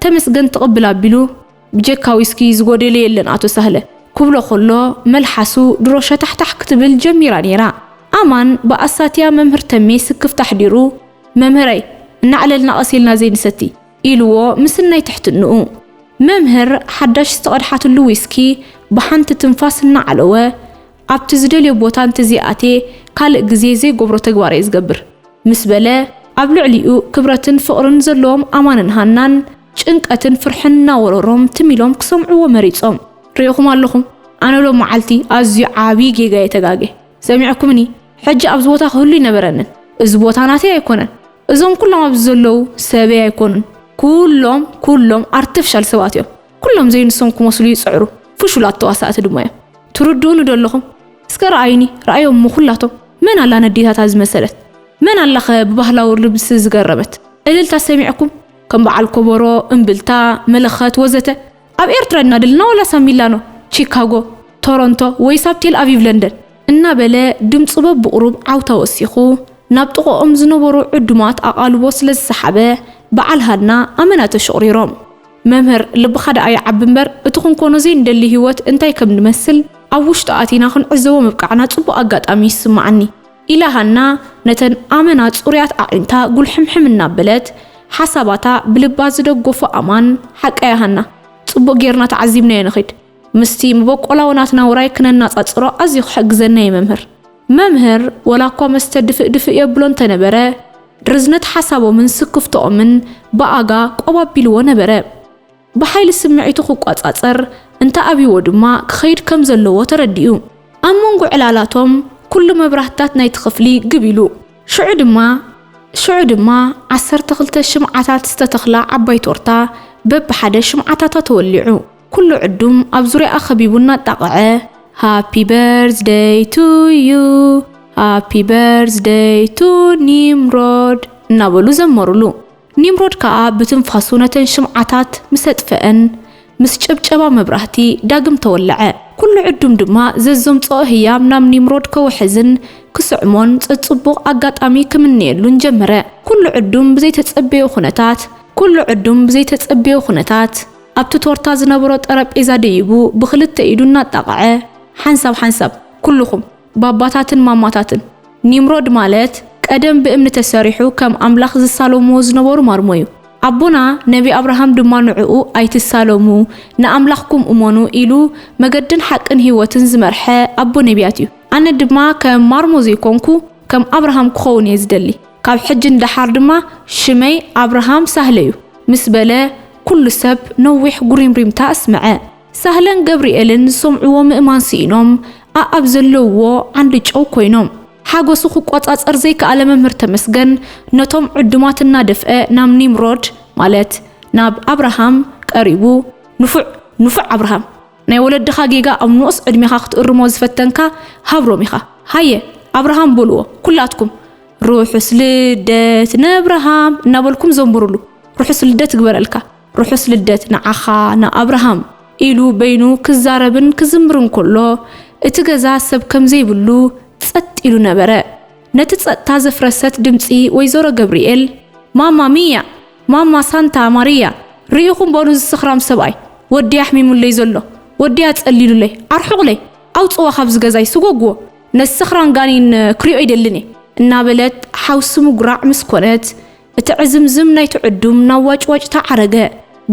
ተመስገን ትቕብል ኣቢሉ። ብጀካ ዊስኪ ዝጎደለ የለን ኣቶ ሳህለ ኩብሎ ኮሎ መልሓሱ ድሮ ሸታሕታሕ ክትብል ጀሚራ ነይራ ኣማን ብኣሳትያ መምህር ተሜ ስክፍታ ኣሕዲሩ መምህረይ እናዕለልና ቀስ ኢልና ዘይንሰቲ ኢልዎ ምስናይ ትሕትንኡ መምህር ሓዳሽ ዝተቀድሓትሉ ዊስኪ ብሓንቲ ትንፋስ እናዓለወ ኣብቲ ዝደልዮ ቦታ እንተዘይኣትየ ካልእ ግዜ ዘይገብሮ ተግባር እየ ዝገብር ምስ በለ፣ ኣብ ልዕሊኡ ክብረትን ፍቕርን ዘለዎም ኣማንን ሃናን ጭንቀትን ፍርሕን እናወረሮም ትም ኢሎም ክሰምዕዎ መሪጾም። ርኤኹም ኣለኹም፣ ኣነ ሎም መዓልቲ ኣዝዩ ዓብዪ ጌጋ እየ ተጋግየ። ሰሚዕኩምኒ፣ ሕጂ ኣብዚ ቦታ ክህሉ ኣይነበረንን። እዚ ቦታ ናተይ ኣይኮነን። እዞም ኩሎም ኣብዚ ዘለዉ ሰበይ ኣይኮኑን። ኩሎም ኩሎም ኣርተፍሻል ሰባት እዮም። ኩሎም ዘይንሶም ክመስሉ ይጽዕሩ ፍሹላት ተዋሳእቲ ድማ እዮም ትርድኡኒ ዶ ኣለኹም እስከ ረኣዩኒ ረኣዮም እሞ ኩላቶም መን ኣላ ነዴታታ ዝመሰለት መን ኣላኸ ብባህላዊ ልብሲ ዝገረመት እልልታ ሰሚዕኩም ከም በዓል ኮቦሮ እምብልታ መለኸት ወዘተ ኣብ ኤርትራ ድና ድልና ወላስ ኣብ ሚላኖ ቺካጎ ቶሮንቶ ወይስ ኣብ ቴል ኣቪቭ ለንደን እናበለ ድምጹ በብቑሩብ ዓውታ ወሲኹ ናብ ጥቕኦም ዝነበሩ ዕዱማት ኣቓልቦ ስለ ዝሰሓበ በዓል ሃና ኣመና ተሽቑሪሮም መምህር ልብኻ ደኣ ይዓቢ እምበር እቲ ክንኮኖ ዘይንደሊ ህይወት እንታይ ከም ዝመስል ኣብ ውሽጡ ኣቲና ክንዕዘቦ ምብቃዕና ጽቡቕ ኣጋጣሚ እዩ ዝስምዓኒ ኢላ ሃና ነተን ኣመና ጽሩያት ኣዒንታ ጉልሕምሕም እናበለት ሓሳባታ ብልባ ዝደጎፎ ኣማን ሓቃያ ሃና ጽቡቕ ጌርና ተዓዚብናዮ ንኺድ ምስቲ መበቆላዊ ናትና ውራይ ክነናጻጽሮ ኣዝዩ ክሕግዘና እዩ መምህር መምህር ወላኳ መስተ ድፍእ ድፍእ የብሎ እንተነበረ፣ ርዝነት ሓሳቦምን ስክፍትኦምን ብኣጋ ቆብ ኣቢልዎ ነበረ። ብሓይሊ ስምዒቱ ክቋጻጸር እንተ ኣብይዎ ድማ ክኸይድ ከም ዘለዎ ተረዲኡ። ኣብ መንጎ ዕላላቶም ኩሉ መብራህትታት ናይቲ ክፍሊ ግብ ኢሉ። ሽዑ ድማ ሽዑ ድማ ዓሰርተ ክልተ ሽምዓታት ዝተተኽላ ዓባይ ቶርታ በብሓደ ሽምዓታታ ተወሊዑ። ኩሉ ዕዱም ኣብ ዙርያኣ ከቢቡ እናጣቕዐ ሃፒ በርዝደይ ቱ ዩ ሃፒ በርዝደይ ቱ ኒምሮድ እናበሉ ዘመሩሉ። ኒምሮድ ከኣ ብትንፋሱ ነተን ሽምዓታት ምስ ኣጥፈኣን፣ ምስ ጨብጨባ መብራህቲ ዳግም ተወልዐ። ኩሉ ዕዱም ድማ ዘዘምጽኦ ህያብ ናብ ኒምሮድ ከውሕዝን ክስዕሞን ጸጽቡቕ ኣጋጣሚ ክምነየሉን ጀመረ። ኩሉ ዕዱም ብዘይተጸበዮ ኩነታት ኩሉ ዕዱም ብዘይተጸበዮ ኩነታት። ኣብቲ ቶርታ ዝነበሮ ጠረጴዛ ደይቡ ብኽልተ ኢዱ እናጣቐዐ ሓንሳብ ሓንሳብ፣ ኩሉኹም ባባታትን ማማታትን፣ ኒምሮድ ማለት ቀደም ብእምኒ ተሰሪሑ ከም ኣምላኽ ዝሳለሙዎ ዝነበሩ ማርሞ'ዩ። ኣቦና ነቢ ኣብርሃም ድማ ንዕኡ ኣይትሳለሙ፣ ንኣምላኽኩም እመኑ ኢሉ መገድን ሓቅን ህይወትን ዝመርሐ ኣቦ ነብያት'ዩ። ኣነ ድማ ከም ማርሞ ዘይኮንኩ ከም ኣብርሃም ክኸውን እየ ዝደሊ። ካብ ሕጂ ንደሓር ድማ ሽመይ ኣብርሃም ሳህለ እዩ ምስ በለ፣ ኩሉ ሰብ ነዊሕ ጉሪምሪምታ ኣስመዐ። ሳህለን ገብርኤልን ዝሰምዕዎ ምእማን ስኢኖም ኣኣብ ዘለውዎ ዓንዲ ጨው ኮይኖም። ሓጎሱ ክቆጻጸር ዘይከኣለ መምህር ተመስገን ነቶም ዕዱማት እናደፍአ ናብ ኒምሮድ ማለት ናብ ኣብርሃም ቀሪቡ ንፉዕ ንፉዕ ኣብርሃም! ናይ ወለድኻ ጌጋ ኣብ ንኡስ ዕድሜኻ ክትእርሞ ዝፈተንካ ሃብሮም ኢኻ ሃየ ኣብርሃም በልዎ ኩላትኩም ርሑስ ልደት ነብርሃም እናበልኩም ዘምብሩሉ ርሑስ ልደት ይግበረልካ ርሑስ ልደት ንዓኻ ንኣብርሃም ኢሉ በይኑ ክዛረብን ክዝምርን ከሎ እቲ ገዛ ሰብ ከምዘይብሉ ጸጥ ኢሉ ነበረ። ነቲ ጸጥታ ዘፍረሰት ድምጺ ወይዘሮ ገብርኤል ማማ ሚያ ማማ ሳንታ ማርያ ሪኢኹም በሉ እዚ ሰኽራም ሰብኣይ ወዲይ ኣሕሚሙለይ ዘሎ ወዲይ ኣጸሊሉለይ ኣርሑቑለይ ኣውጽዋ ካብዚ ገዛይ ስጎግዎ ነዚ ሰኽራም ጋኔን ክሪኦ ኣይደልን እየ እናበለት ሓውሲ ምጉራዕ ምስ ኮነት እቲ ዕዝምዝም ናይቲ ዕዱም ናብ ዋጭዋጭታ ዓረገ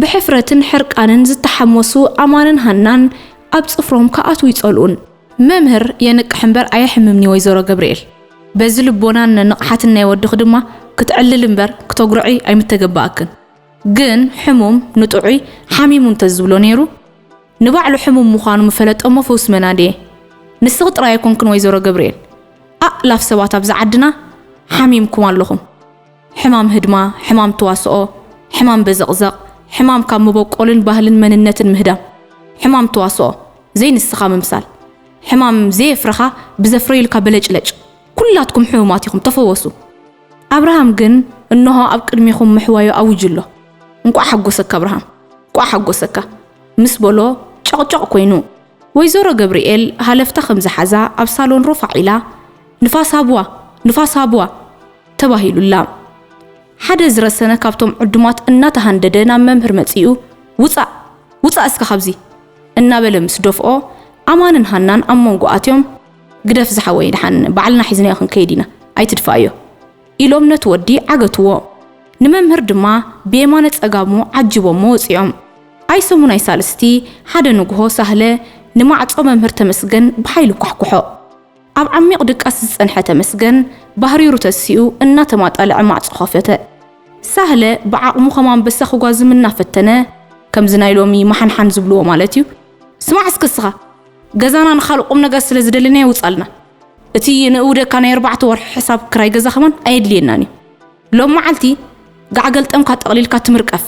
ብሕፍረትን ሕርቃንን ዝተሓሞሱ ኣማንን ሃናን ኣብ ጽፍሮም ክኣትዉ ይጸልኡን መምህር የንቅሕ እምበር ኣየሕምምን'ዩ ወይዘሮ ገብርኤል። በዚ ልቦናን ንቕሓትን ናይ ወድኺ ድማ ክትዕልሊ እምበር ክተጉርዒ ኣይምተገበኣክን። ግን ሕሙም ንጥዑይ ሓሚሙ እንተዝብሎ ነይሩ ንባዕሉ ሕሙም ምዃኑ ምፈለጠ'ሞ ፈውሲ መን ኣድየ? ንስኺ ጥራይ ኣይኮንክን ወይዘሮ ገብርኤል። ኣእላፍ ሰባት ኣብዚ ዓድና ሓሚምኩም ኣለኹም። ሕማም ህድማ፣ ሕማም ተዋስኦ፣ ሕማም በዘቕዘቕ፣ ሕማም ካብ መበቆልን ባህልን መንነትን ምህዳም፣ ሕማም ተዋስኦ፣ ዘይንስኻ ምምሳል፣ ሕማም ዘየፍረኻ ብዘፍረዩልካ በለጭለጭ፣ ኩላትኩም ሕሙማት ኢኹም፣ ተፈወሱ። ኣብርሃም ግን እንሆ ኣብ ቅድሜኹም ምሕዋዩ ኣዊጁ ኣሎ። እንቋዕ ሓጎሰካ ኣብርሃም፣ እንቋዕ ሓጎሰካ! ምስ በሎ ጨቕጨቕ ኮይኑ። ወይዘሮ ገብርኤል ሃለፍታ ከም ዝሓዛ ኣብ ሳሎን ሮፋዕ ኢላ፣ ንፋስ ሃብዋ! ንፋስ ሃብዋ! ተባሂሉላ። ሓደ ዝረሰነ ካብቶም ዕዱማት እናተሃንደደ ናብ መምህር መጺኡ ውጻእ! ውጻእ እስከ ካብዚ! እናበለ ምስ ደፍኦ፣ ኣማንን ሃናን ኣብ መንጎ ኣትዮም ግደፍ ዝሓወይ ደሓን ባዕልና ሒዝናዮ ክንከይድ ኢና ኣይትድፍኣዮ! ኢሎም ነቲ ወዲ ዓገትዎ። ንመምህር ድማ ብየማነ ጸጋሙ ዓጂቦሞ ወጺኦም። ኣይ ሰሙን ኣይ ሳልስቲ ሓደ ንግሆ ሳህለ ንማዕጾ መምህር ተመስገን ብሓይሊ ኳሕኩሖ። ኣብ ዓሚቕ ድቃስ ዝጸንሐ ተመስገን፣ ባህሪሩ ተሲኡ እናተማጣልዐ ማዕጾ ከፈተ። ሳህለ ብዓቕሙ ከም ኣንበሳ ክጓዝም እናፈተነ፣ ከምዚ ናይ ሎሚ ማሓንሓን ዝብልዎ ማለት'ዩ፣ ስማዕ እስከ እስኻ፣ ገዛና ንኻልእ ቁምነገር ስለ ዝደለናዮ ውጻልና። እቲ ንእውደካ ናይ ኣርባዕተ ወርሒ ሕሳብ ክራይ ገዛ ከማን ኣየድልየናን'ዩ። ሎም መዓልቲ ጋዕ ገልጠምካ ጠቕሊልካ ትምርቀፍ።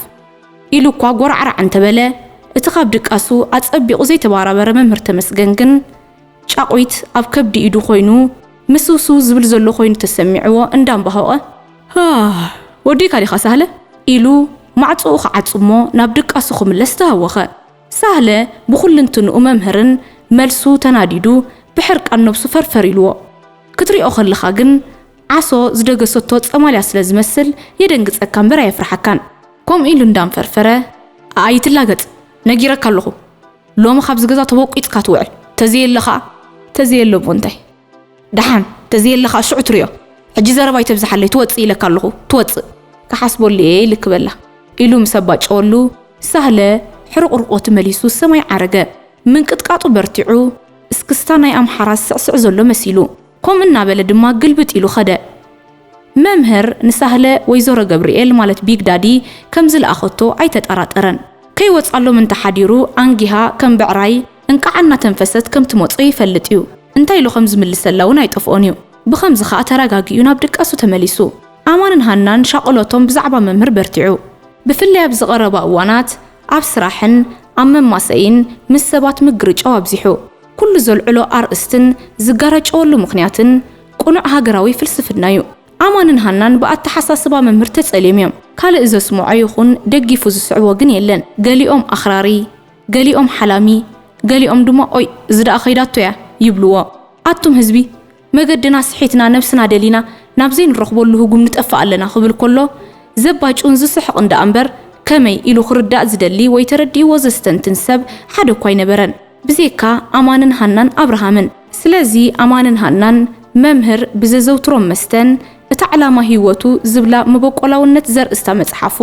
ኢሉ'ኳ ጎራዕራዕ እንተበለ፣ እቲ ካብ ድቃሱ ኣጸቢቑ ዘይተባራበረ መምህር ተመስገን ግን፣ ጫቑት ኣብ ከብዲ ኢዱ ኮይኑ ምስውስው ዝብል ዘሎ ኮይኑ ተሰሚዕዎ እንዳምባሆቐ ሃህ ወዲእካ ዲኻ ሳህለ? ኢሉ ማዕጾኡ ክዓጹ'ሞ ናብ ድቃሱ ክምለስ ተሃወኸ። ሳህለ ብኹልንትንኡ መምህርን መልሱ ተናዲዱ ብሕርቃን ነብሱ ፈርፈር ኢልዎ። ክትሪኦ ከለኻ ግን ዓሶ ዝደገሰቶ ጸማልያ ስለ ዝመስል የደንግጸካ እምበር ኣየፍርሓካን። ከምኡ ኢሉ እንዳንፈርፈረ ኣይትላገጽ ነጊረካ ኣለኹ። ሎሚ ካብዚ ገዛ ተቦቂጽካ ትውዕል ተዘየለ ከኣ ተዘየለ እሞ እንታይ ደሓን ተዘየለ ከኣ ሽዑ ትሪኦ ሕጂ ዘረባ ኣይተብዝሓለይ ትወጽእ ኢለካ ኣለኹ ትወጽእ ክሓስበሉ እየ ኢልክ በላ ኢሉ ምስ ኣባጨወሉ ሳህለ ሕርቑርቖቲ መሊሱ ሰማይ ዓረገ ምንቅጥቃጡ በርቲዑ እስክስታ ናይ ኣምሓራ ዝስዕስዕ ዘሎ መሲሉ ከምኡ እናበለ ድማ ግልብጥ ኢሉ ከደ። መምህር ንሳህለ ወይዘሮ ገብርኤል ማለት ቢግ ዳዲ ከም ዝልኣኸቶ ኣይተጠራጠረን። ከይወጽኣሎም እንተ ሓዲሩ ኣንጊሃ ከም ብዕራይ እንቃዕ እናተንፈሰት ከም ትመጾ ይፈልጥ እዩ። እንታይ ኢሉ ከም ዝምልሰላ እውን ኣይጠፍኦን እዩ። ብኸምዚ ከኣ ተረጋጊኡ ናብ ድቃሱ ተመሊሱ። ኣማንን ሃናን ሻቕሎቶም ብዛዕባ መምህር በርቲዑ። ብፍላይ ኣብዚ ቀረባ እዋናት ኣብ ስራሕን ኣብ መማሰይን ምስ ሰባት ምግርጫው ኣብዚሑ። ኩሉ ዘልዕሎ ኣርእስትን ዝጋራጨወሉ ምኽንያትን ቅኑዕ ሃገራዊ ፍልስፍና እዩ። ኣማንን ሃናን ብኣተሓሳስባ መምህር ተጸልዮም እዮም። ካልእ ዘስምዖ ይኹን ደጊፉ ዝስዕቦ ግን የለን። ገሊኦም ኣኽራሪ፣ ገሊኦም ሓላሚ፣ ገሊኦም ድማ ኦይ እዚ ደኣ ከይዳቶ እያ ይብልዎ። ኣቱም ህዝቢ! መገድና ስሒትና ነብስና ደሊና ናብ ዘይንረኽበሉ ህጉም ንጠፍእ ኣለና ክብል ከሎ ዘባጩን ዝስሕቕን ደኣ እምበር ከመይ ኢሉ ክርዳእ ዝደሊ ወይ ተረዲእዎ ዘስተንትን ሰብ ሓደ እኳ ኣይነበረን ብዜካ ኣማንን ሃናን ኣብርሃምን። ስለዚ ኣማንን ሃናን መምህር ብዘዘውትሮም መስተን እታ ዕላማ ህይወቱ ዝብላ መበቆላውነት ዘርእስታ መጽሓፉ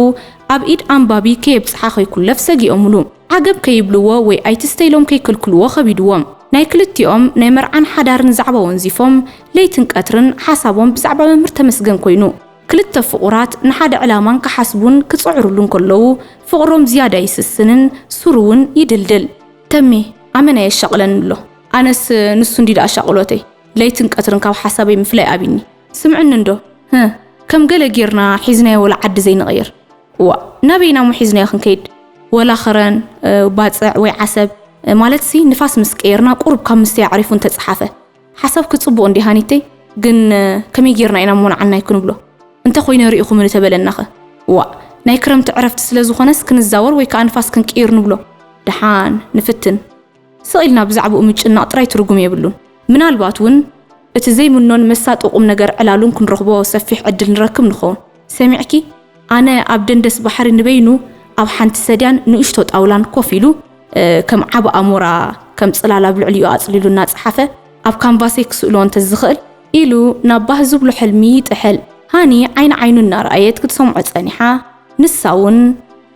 ኣብ ኢድ ኣንባቢ ከየብጽሓ ከይኩለፍ ሰጊኦምሉ። ዓገብ ከይብልዎ ወይ ኣይትስተ ኢሎም ከይክልክልዎ ከቢድዎም ናይ ክልቲኦም ናይ መርዓን ሓዳርን ዛዕባ ወንዚፎም ለይትን ቀትርን ሓሳቦም ብዛዕባ መምህር ተመስገን ኮይኑ። ክልተ ፍቑራት ንሓደ ዕላማን ክሓስቡን ክጽዕሩሉን ከለዉ ፍቕሮም ዝያዳ ይስስንን ሱሩ ውን ይድልድል። ተሜ ኣመና የሻቕለኒ ኣሎ ኣነስ ንሱ እንድዩ ደኣ ሻቕሎተይ ለይትን ቀትርን ካብ ሓሳበይ ምፍላይ ኣቢኒ ስምዕኒ እንዶ ህህ ከም ገለ ጌርና ሒዝናዮ ወላ ዓዲ ዘይንቕይር። እዋእ ናበይ ኢና እሞ ሒዝናዮ ክንከይድ ወላ ኽረን ባጽዕ ወይ ዓሰብ ማለትሲ ንፋስ ምስ ቀየርና ቁሩብ ካብ ምስትይ ኣዕሪፉ እንተጸሓፈ ሓሳብኪ ጽቡቅ እንድዩ ሃኒተይ ግን ከመይ ጌርና ኢና እሞ ንዓናይ ክንብሎ እንተ ኮይነ ሪኢኹምኒ ተበለናኸ እዋእ ናይ ክረምቲ ዕረፍቲ ስለ ዝኾነስ ክንዛወር ወይ ከኣ ንፋስ ክንቅይር ንብሎ ደሓን ንፍትን ስቕ ኢልና ብዛዕባኡ ምጭናቕ ጥራይ ትርጉም የብሉን። ምናልባት እውን እቲ ዘይምኖን መሳጢ ቁምነገር ዕላሉን ክንረኽቦ ሰፊሕ ዕድል ንረክብ ንኸውን። ሰሚዕኪ? ኣነ ኣብ ደንደስ ባሕሪ ንበይኑ ኣብ ሓንቲ ሰድያን ንእሽቶ ጣውላን ኮፍ ኢሉ ከም ዓቢ ኣሞራ ከም ጽላል ኣብ ልዕሊኡ ኣጽሊሉ እናጸሓፈ ኣብ ካንቫሰይ ክስእሎ እንተ ዝኽእል? ኢሉ ናብ ባህ ዝብሎ ሕልሚ ይጥሕል። ሃኒ ዓይኒ ዓይኑ እናረኣየት ክትሰምዖ ጸኒሓ፣ ንሳ እውን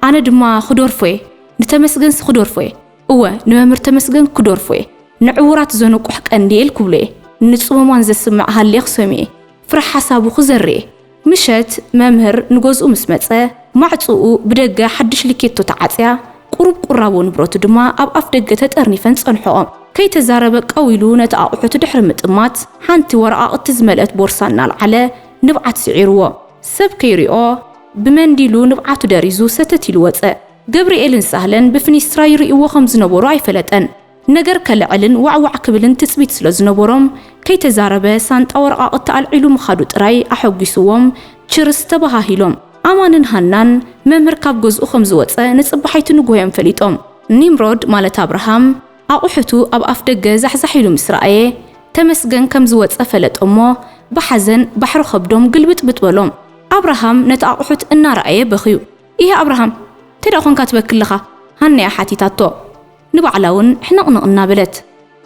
ኣነ ድማ ክደርፎ'የ፣ ንተመስገንሲ ክደርፎ'የ! እወ ንመምህር ተመስገን ክዶርፎ እየ ንዕውራት ዘንቁሕ ቀንዴል ክብሎ እየ ንጽሙማን ዘስምዕ ሃልየ ክሰምዩ'የ ፍረ ሓሳቡ ክዘሪ እየ ምሸት መምህር ንገዝኡ ምስ መጸ ማዕጽኡ ብደገ ሓድሽ ልኬቶ ተዓጽያ ቁሩብ ቁራቦ ንብረቱ ድማ ኣብ ኣፍ ደገ ተጠርኒፈን ጸንሕኦ ከይተዛረበ ቀው ኢሉ ነቲ ኣቑሑቱ ድሕሪ ምጥማት ሓንቲ ወረቓቕቲ ዝመልእት ቦርሳ እናልዓለ ንብዓት ስዒርዎ ሰብ ከይሪኦ ብመንዲሉ ንብዓቱ ደሪዙ ሰተት ኢሉ ወጸ ገብርኤልን ሳህለን ብፍኒስትራ ይርእይዎ ከም ዝነበሩ ኣይፈለጠን። ነገር ከለዕልን ዋዕ ዋዕ ክብልን ትጽቢት ስለ ዝነበሮም፣ ከይተዛረበ ሳንጣ ወረቓቕቲ ኣልዒሉ ምኻዱ ጥራይ ኣሐጒስዎም ችርስ ተበሃሂሎም። ኣማንን ሃናን፣ መምህር ካብ ገዝኡ ከም ዝወጸ ንጽባሒቱ ንግሆ'ዮም ፈሊጦም። ኒምሮድ ማለት ኣብርሃም፣ ኣቑሑቱ ኣብ ኣፍ ደገ ዛሕዛሕ ኢሉ ምስ ረኣየ፣ ተመስገን ከም ዝወጸ ፈለጠ'ሞ፣ ብሓዘን ባሕሪ ከብዶም ግልብጥብጥ በሎም። ኣብርሃም ነቲ ኣቑሑት እናረኣየ በኽዩ። ኢሂ ኣብርሃም እንታይ ደኣ ኮንካ ትበኪ ኣለኻ? ሃኒኣ ሓቲታቶ። ንባዕላ እውን ሕንቕንቕ እናበለት።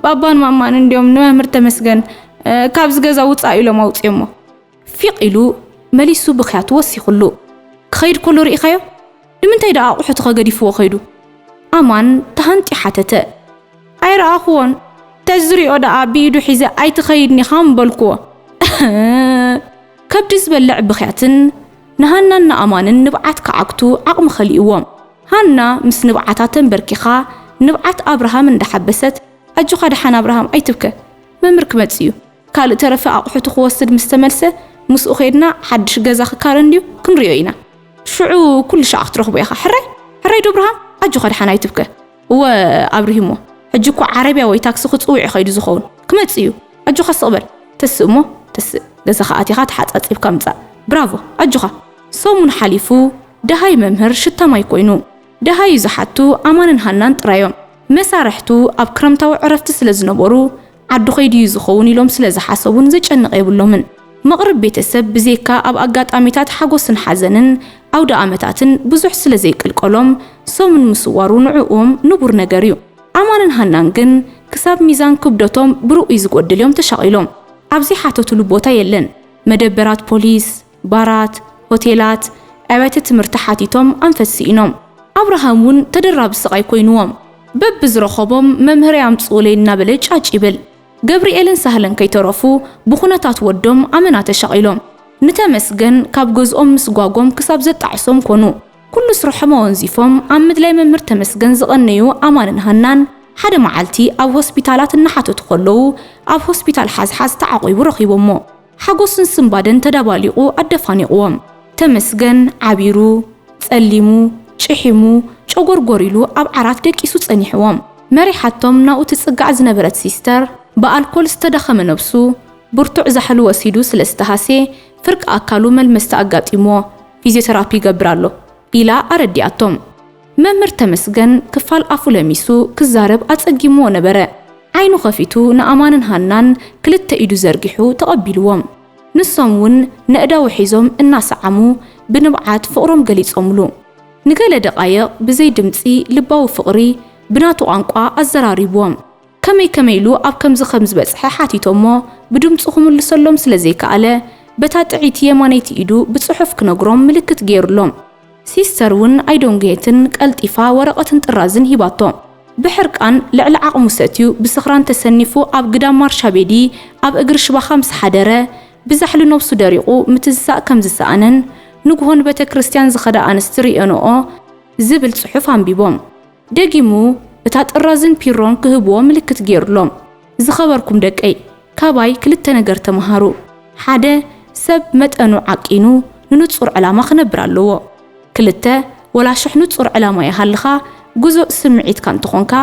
ባባን ማማን እንድዮም ንመምህር ተመስገን ካብዚ ገዛ ውጻእ ኢሎም ኣውጺኦሞ። ፊቕ ኢሉ መሊሱ ብኽያቱ ወሲኹሉ። ክኸይድ ከሎ ርኢኻዮ? ንምንታይ ደኣ ኣቑሑትኸ ገዲፍዎ ከይዱ? ኣማን ተሃንጥዩ ሓተተ። ኣይረኣኹዎን፣ ተዝሪኦ ደኣ ብኢዱ ሒዘ ኣይትኸይድን ኢኻ ምበልኩዎ። እህ! ከብዲ ዝበልዕ ብኽያትን ንሃናን ንኣማንን ንብዓት ክዓግቱ ዓቕሚ ከሊኡዎም፣ ሃና ምስ ንብዓታ ተንበርኪኻ ንብዓት ኣብርሃም እንዳሓበሰት ኣጆኻ ደሓን ኣብርሃም ኣይትብከ መምህር ክመጽእ እዩ ካልእ ተረፈ ኣቑሑቱ ክወስድ ምስ ተመልሰ ምስኡ ከይድና ሓድሽ ገዛ ክካረ እንድዩ ክንሪኦ ኢና ሽዑ ኩሉ ሻዕ ክትረኽቦ ኢኻ ሕራይ ሕራይ ዶ ኣብርሃም ኣጆኻ ደሓን ኣይትብከ እወ ኣብሪሂሞ ሕጂ እኮ ዓረብያ ወይ ታክሲ ክጽውዕ እዩ ከይዱ ዝኸውን ክመጽእ እዩ ኣጆኻ ስቕ በል ተስእ እሞ ተስእ ገዛኻ ኣቲኻ ተሓጻጺብካ ምጻእ ብራቮ ኣጆኻ ሰሙን ሓሊፉ ደሃይ መምህር ሽታ ማይ ኮይኑ ደሃዩ ዝሓቱ ኣማንን ሃናን ጥራዮም መሳርሕቱ ኣብ ክረምታዊ ዕረፍቲ ስለ ዝነበሩ ዓዱ ከይዱ እዩ ዝኸውን ኢሎም ስለ ዝሓሰቡን ዘጨንቕ የብሎምን። መቕርብ ቤተሰብ ብዜካ ኣብ ኣጋጣሚታት ሓጎስን ሓዘንን፣ ኣውደኣመታትን፣ ብዙሕ ስለ ዘይቅልቀሎም ሰሙን ምስዋሩ ንዕኡም ንቡር ነገር እዩ። ኣማንን ሃናን ግን ክሳብ ሚዛን ክብደቶም ብርኡይ ዝጎድል እዮም ተሻቒሎም። ኣብ ዘይሓተቱሉ ቦታ የለን። መደበራት ፖሊስ፣ ባራት፣ ሆቴላት፣ ኣብያተ ትምህርቲ ሓቲቶም ኣንፈት ስኢኖም። ኣብርሃም እውን ተደራቢ ስቓይ ኮይኑዎም። በብዝረኸቦም መምህረይ ኣምፅኡለይ እናበለ ጫጭ ይብል። ገብሪኤልን ሳህለን ከይተረፉ ብኹነታት ወዶም ኣመና ተሻቒሎም። ንተመስገን ካብ ገዝኦም ምስጓጎም ክሳብ ዘጣዕሶም ኮኑ። ኩሉ ስርሖም ኣወንዚፎም ኣብ ምድላይ መምህር ተመስገን ዝቐነዩ ኣማንን ሃናን ሓደ መዓልቲ ኣብ ሆስፒታላት እናሓተቱ ከለዉ ኣብ ሆስፒታል ሓዝሓዝ ተዓቚቡ ረኺቦሞ። ሓጎስን ስንባደን ተዳባሊቑ ኣደፋኒቑዎም። ተመስገን ዓቢሩ፣ ጸሊሙ፣ ጭሒሙ፣ ጨጎርጎር ኢሉ ኣብ ዓራት ደቂሱ ጸኒሑዎም። መሪሓቶም ናብኡ ትጽጋዕ ዝነበረት ሲስተር፣ ብኣልኮል ዝተዳኸመ ነብሱ፣ ብርቱዕ ዛሕሊ ወሲዱ ስለ ዝተሃስየ ፍርቂ ኣካሉ መልመስቲ ኣጋጢሙዎ ፊዝዮተራፒ ይገብር ኣሎ ኢላ ኣረዲኣቶም። መምህር ተመስገን ክፋል ኣፉ ለሚሱ ክዛረብ ኣጸጊምዎ ነበረ። ዓይኑ ከፊቱ ንኣማንን ሃናን ክልተ ኢዱ ዘርጊሑ ተቐቢልዎም። ንሶም እውን ነእዳዉ ሒዞም እናሰዓሙ ብንብዓት ፍቕሮም ገሊጾምሉ። ንገለ ደቓይቕ ብዘይ ድምጺ ልባዊ ፍቕሪ ብናቱ ቋንቋ ኣዘራሪብዎም። ከመይ ከመይ ኢሉ ኣብ ከምዚ ከም ዝበጽሐ ሓቲቶሞ ብድምጹ ክምልሰሎም ስለ ዘይከኣለ በታ ጥዕይቲ የማነይቲ ኢዱ ብጽሑፍ ክነግሮም ምልክት ገይሩሎም። ሲስተር ውን ኣይደንጉየትን ቀልጢፋ ወረቐትን ጥራዝን ሂባቶ። ብሕርቃን ልዕሊ ዓቕሙ ሰትዩ ብስኽራን ተሰኒፉ ኣብ ግዳም ማርሻቤዲ ኣብ እግሪ ሽባኻ ምስ ሓደረ ብዛሕሊ ነብሱ ደሪቑ ምትዝዛእ ከም ዝሰኣነን ንግሆ ንቤተክርስትያን ዝኸዳ ኣንስቲ ርእዮንኦ ዝብል ጽሑፍ ኣንቢቦም ደጊሙ እታ ጥራዝን ፒሮን ክህብዎ ምልክት ጌሩሎም። ዝኸበርኩም ደቀይ፣ ካባይ ክልተ ነገር ተመሃሩ። ሓደ፣ ሰብ መጠኑ ዓቂኑ ንንጹር ዕላማ ክነብር ኣለዎ። ክልተ፣ ወላ ሽሕ ንጹር ዕላማ ይሃልኻ፣ ግዙእ ስምዒትካ እንተኾንካ፣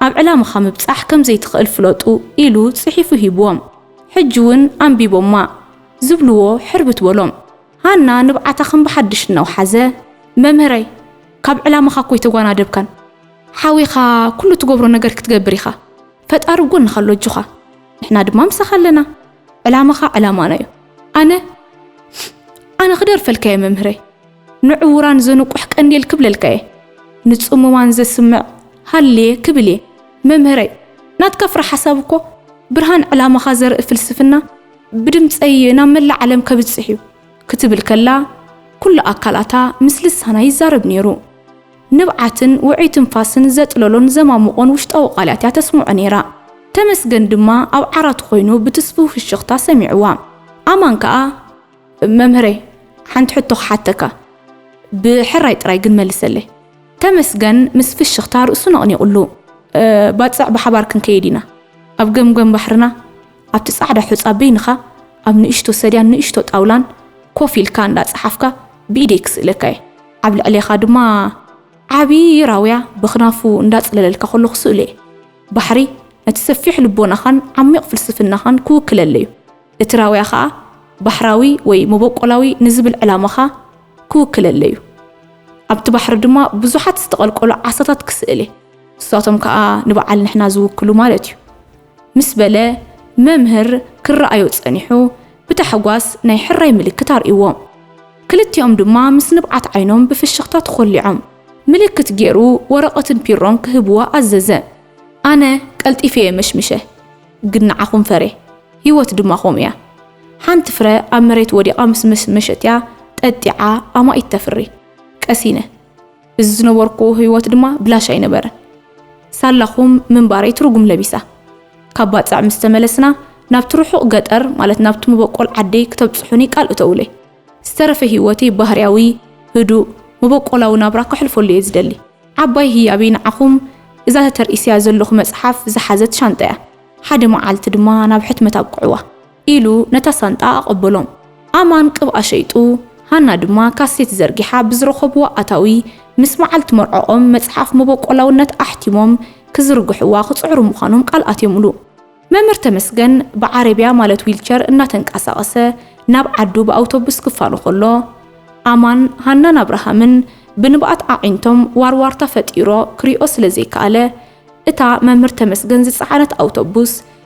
ኣብ ዕላማኻ ምብጻሕ ከም ዘይትኽእል ፍለጡ ኢሉ ጽሒፉ ሂብዎም። ሕጂ'ውን ኣንቢቦማ። ዝብልዎ ሕርብት በሎም። ሃና ንብዓታ ከም ብሓድሽ እናውሓዘ፣ መምህረይ፣ ካብ ዕላማኻ እኮ ኣይተጓናደብካን። ሓዊኻ ኩሉ እትገብሮ ነገር ክትገብር ኢኻ። ፈጣሪ ኣብ ጎንኻ ኣሎ ኣጆኻ። ንሕና ድማ ምሳኻ ኣለና። ዕላማኻ ዕላማና እዩ። ኣነ ኣነ ክደርፈልካ እየ መምህረይ። ንዕዉራን ዘንቁሕ ቀንዴል ክብለልካ እየ። ንጽሙማን ዘስምዕ ሃልየ ክብል እየ። መምህረይ፣ ናትካ ፍረ ሓሳብ እኮ ብርሃን ዕላማኻ ዘርኢ ፍልስፍና፣ ብድምጸይ ናብ መላእ ዓለም ከብጽሕ እዩ ክትብል ከላ ኩሉ ኣካላታ ምስ ልሳና ይዛረብ ነይሩ። ንብዓትን ውዑይ ትንፋስን ዘጥለሎን ዘማሙቖን ውሽጣዊ ቃላት እያ ተስምዖ ነይራ። ተመስገን ድማ ኣብ ዓራቱ ኮይኑ ብትስፉው ፍሽኽታ ሰሚዕዋ። ኣማን ከኣ። መምህረይ ሓንቲ ሕቶ ክሓተካ፣ ብሕራይ ጥራይ ግን መልሰለይ። ተመስገን ምስ ፍሽኽታ ርእሱ ነቕኒቕሉ። ባጽዕ ብሓባር ክንከይድ ኢና ኣብ ገምገም ባሕርና። ኣብቲ ጻዕዳ ሑጻ በይንኻ ኣብ ንእሽቶ ሰድያን ንእሽቶ ጣውላን ኮፍ ኢልካ እንዳ ጸሓፍካ ብኢደይ ክስእለካ እየ። ኣብ ልዕሌኻ ድማ ዓቢ ራውያ በኽናፉ እንዳ ጽለለልካ ከሎ ክስእሎ እየ። ባሕሪ ነቲ ሰፊሕ ልቦናኻን ዓሚቕ ፍልስፍናኻን ክውክለለይ እዩ። እቲ ራውያ ከኣ ባሕራዊ ወይ መበቆላዊ ንዝብል ዕላማኻ ክውክለለይ እዩ። ኣብቲ ባሕሪ ድማ ብዙሓት ዝተቐልቀሉ ዓሳታት ክስእል እየ። ንሳቶም ከኣ ንበዓል ንሕና ዝውክሉ ማለት እዩ። ምስ በለ መምህር ክረኣዮ ጸኒሑ ብታሕጓስ ናይ ሕራይ ምልክት ኣርእይዎም። ክልቲኦም ድማ ምስ ንብዓት ዓይኖም ብፍሽኽታ ተኾሊዖም። ምልክት ጌሩ ወረቐትን ፒሮን ክህብዎ ኣዘዘ። ኣነ ቀልጢፈ እየ መሽሚሸ። ግን ንዓኹም ፈርየ። ህይወት ድማ ከምኡ እያ። ሓንቲ ፍረ ኣብ መሬት ወዲቓ ምስ መሽመሸት'ያ ጠጢዓ ኣማኢት ተፍሪ። ቀሲነ። እዚ ዝነበርኩዎ ህይወት ድማ ብላሽ ኣይነበረን። ሳላኹም ምንባረይ ትርጉም ለቢሳ። ካብ ባጽዕ ምስ ተመለስና፣ ናብቲ ርሑቕ ገጠር፣ ማለት ናብቲ መበቆል ዓደይ ክተብጽሑኒ ቃል እተዉለይ። ዝተረፈ ህይወተይ ባህርያዊ፣ ህዱእ፣ መበቆላዊ ናብራ ከሕልፈሉ እየ ዝደሊ። ዓባይ ህያበይ ንዓኹም እዛ ተተርኢስያ ዘለኹ መጽሓፍ ዝሓዘት ሻንጣ'ያ። ሓደ መዓልቲ ድማ ናብ ሕትመት ኣብቅዕዋ። ኢሉ ነታ ሳንጣ ኣቐበሎም። ኣማን ቅብኣ ሸይጡ፣ ሃና ድማ ካሴት ዘርጊሓ ብዝረኸብዎ ኣታዊ ምስ መዓልቲ መርዖኦም መጽሓፍ መበቆላውነት ኣሕቲሞም ክዝርግሕዋ ክጽዕሩ ምዃኖም ቃል ኣትዮምሉ። መምህር ተመስገን ብዓረብያ ማለት ዊልቸር እናተንቀሳቐሰ ናብ ዓዱ ብኣውቶቡስ ክፋኖ ከሎ፣ ኣማን፣ ሃናን ኣብርሃምን ብንብኣት ኣዒንቶም ዋርዋርታ ፈጢሮ ክሪኦ ስለ ዘይከኣለ፣ እታ መምህር ተመስገን ዝጸዓነት ኣውቶቡስ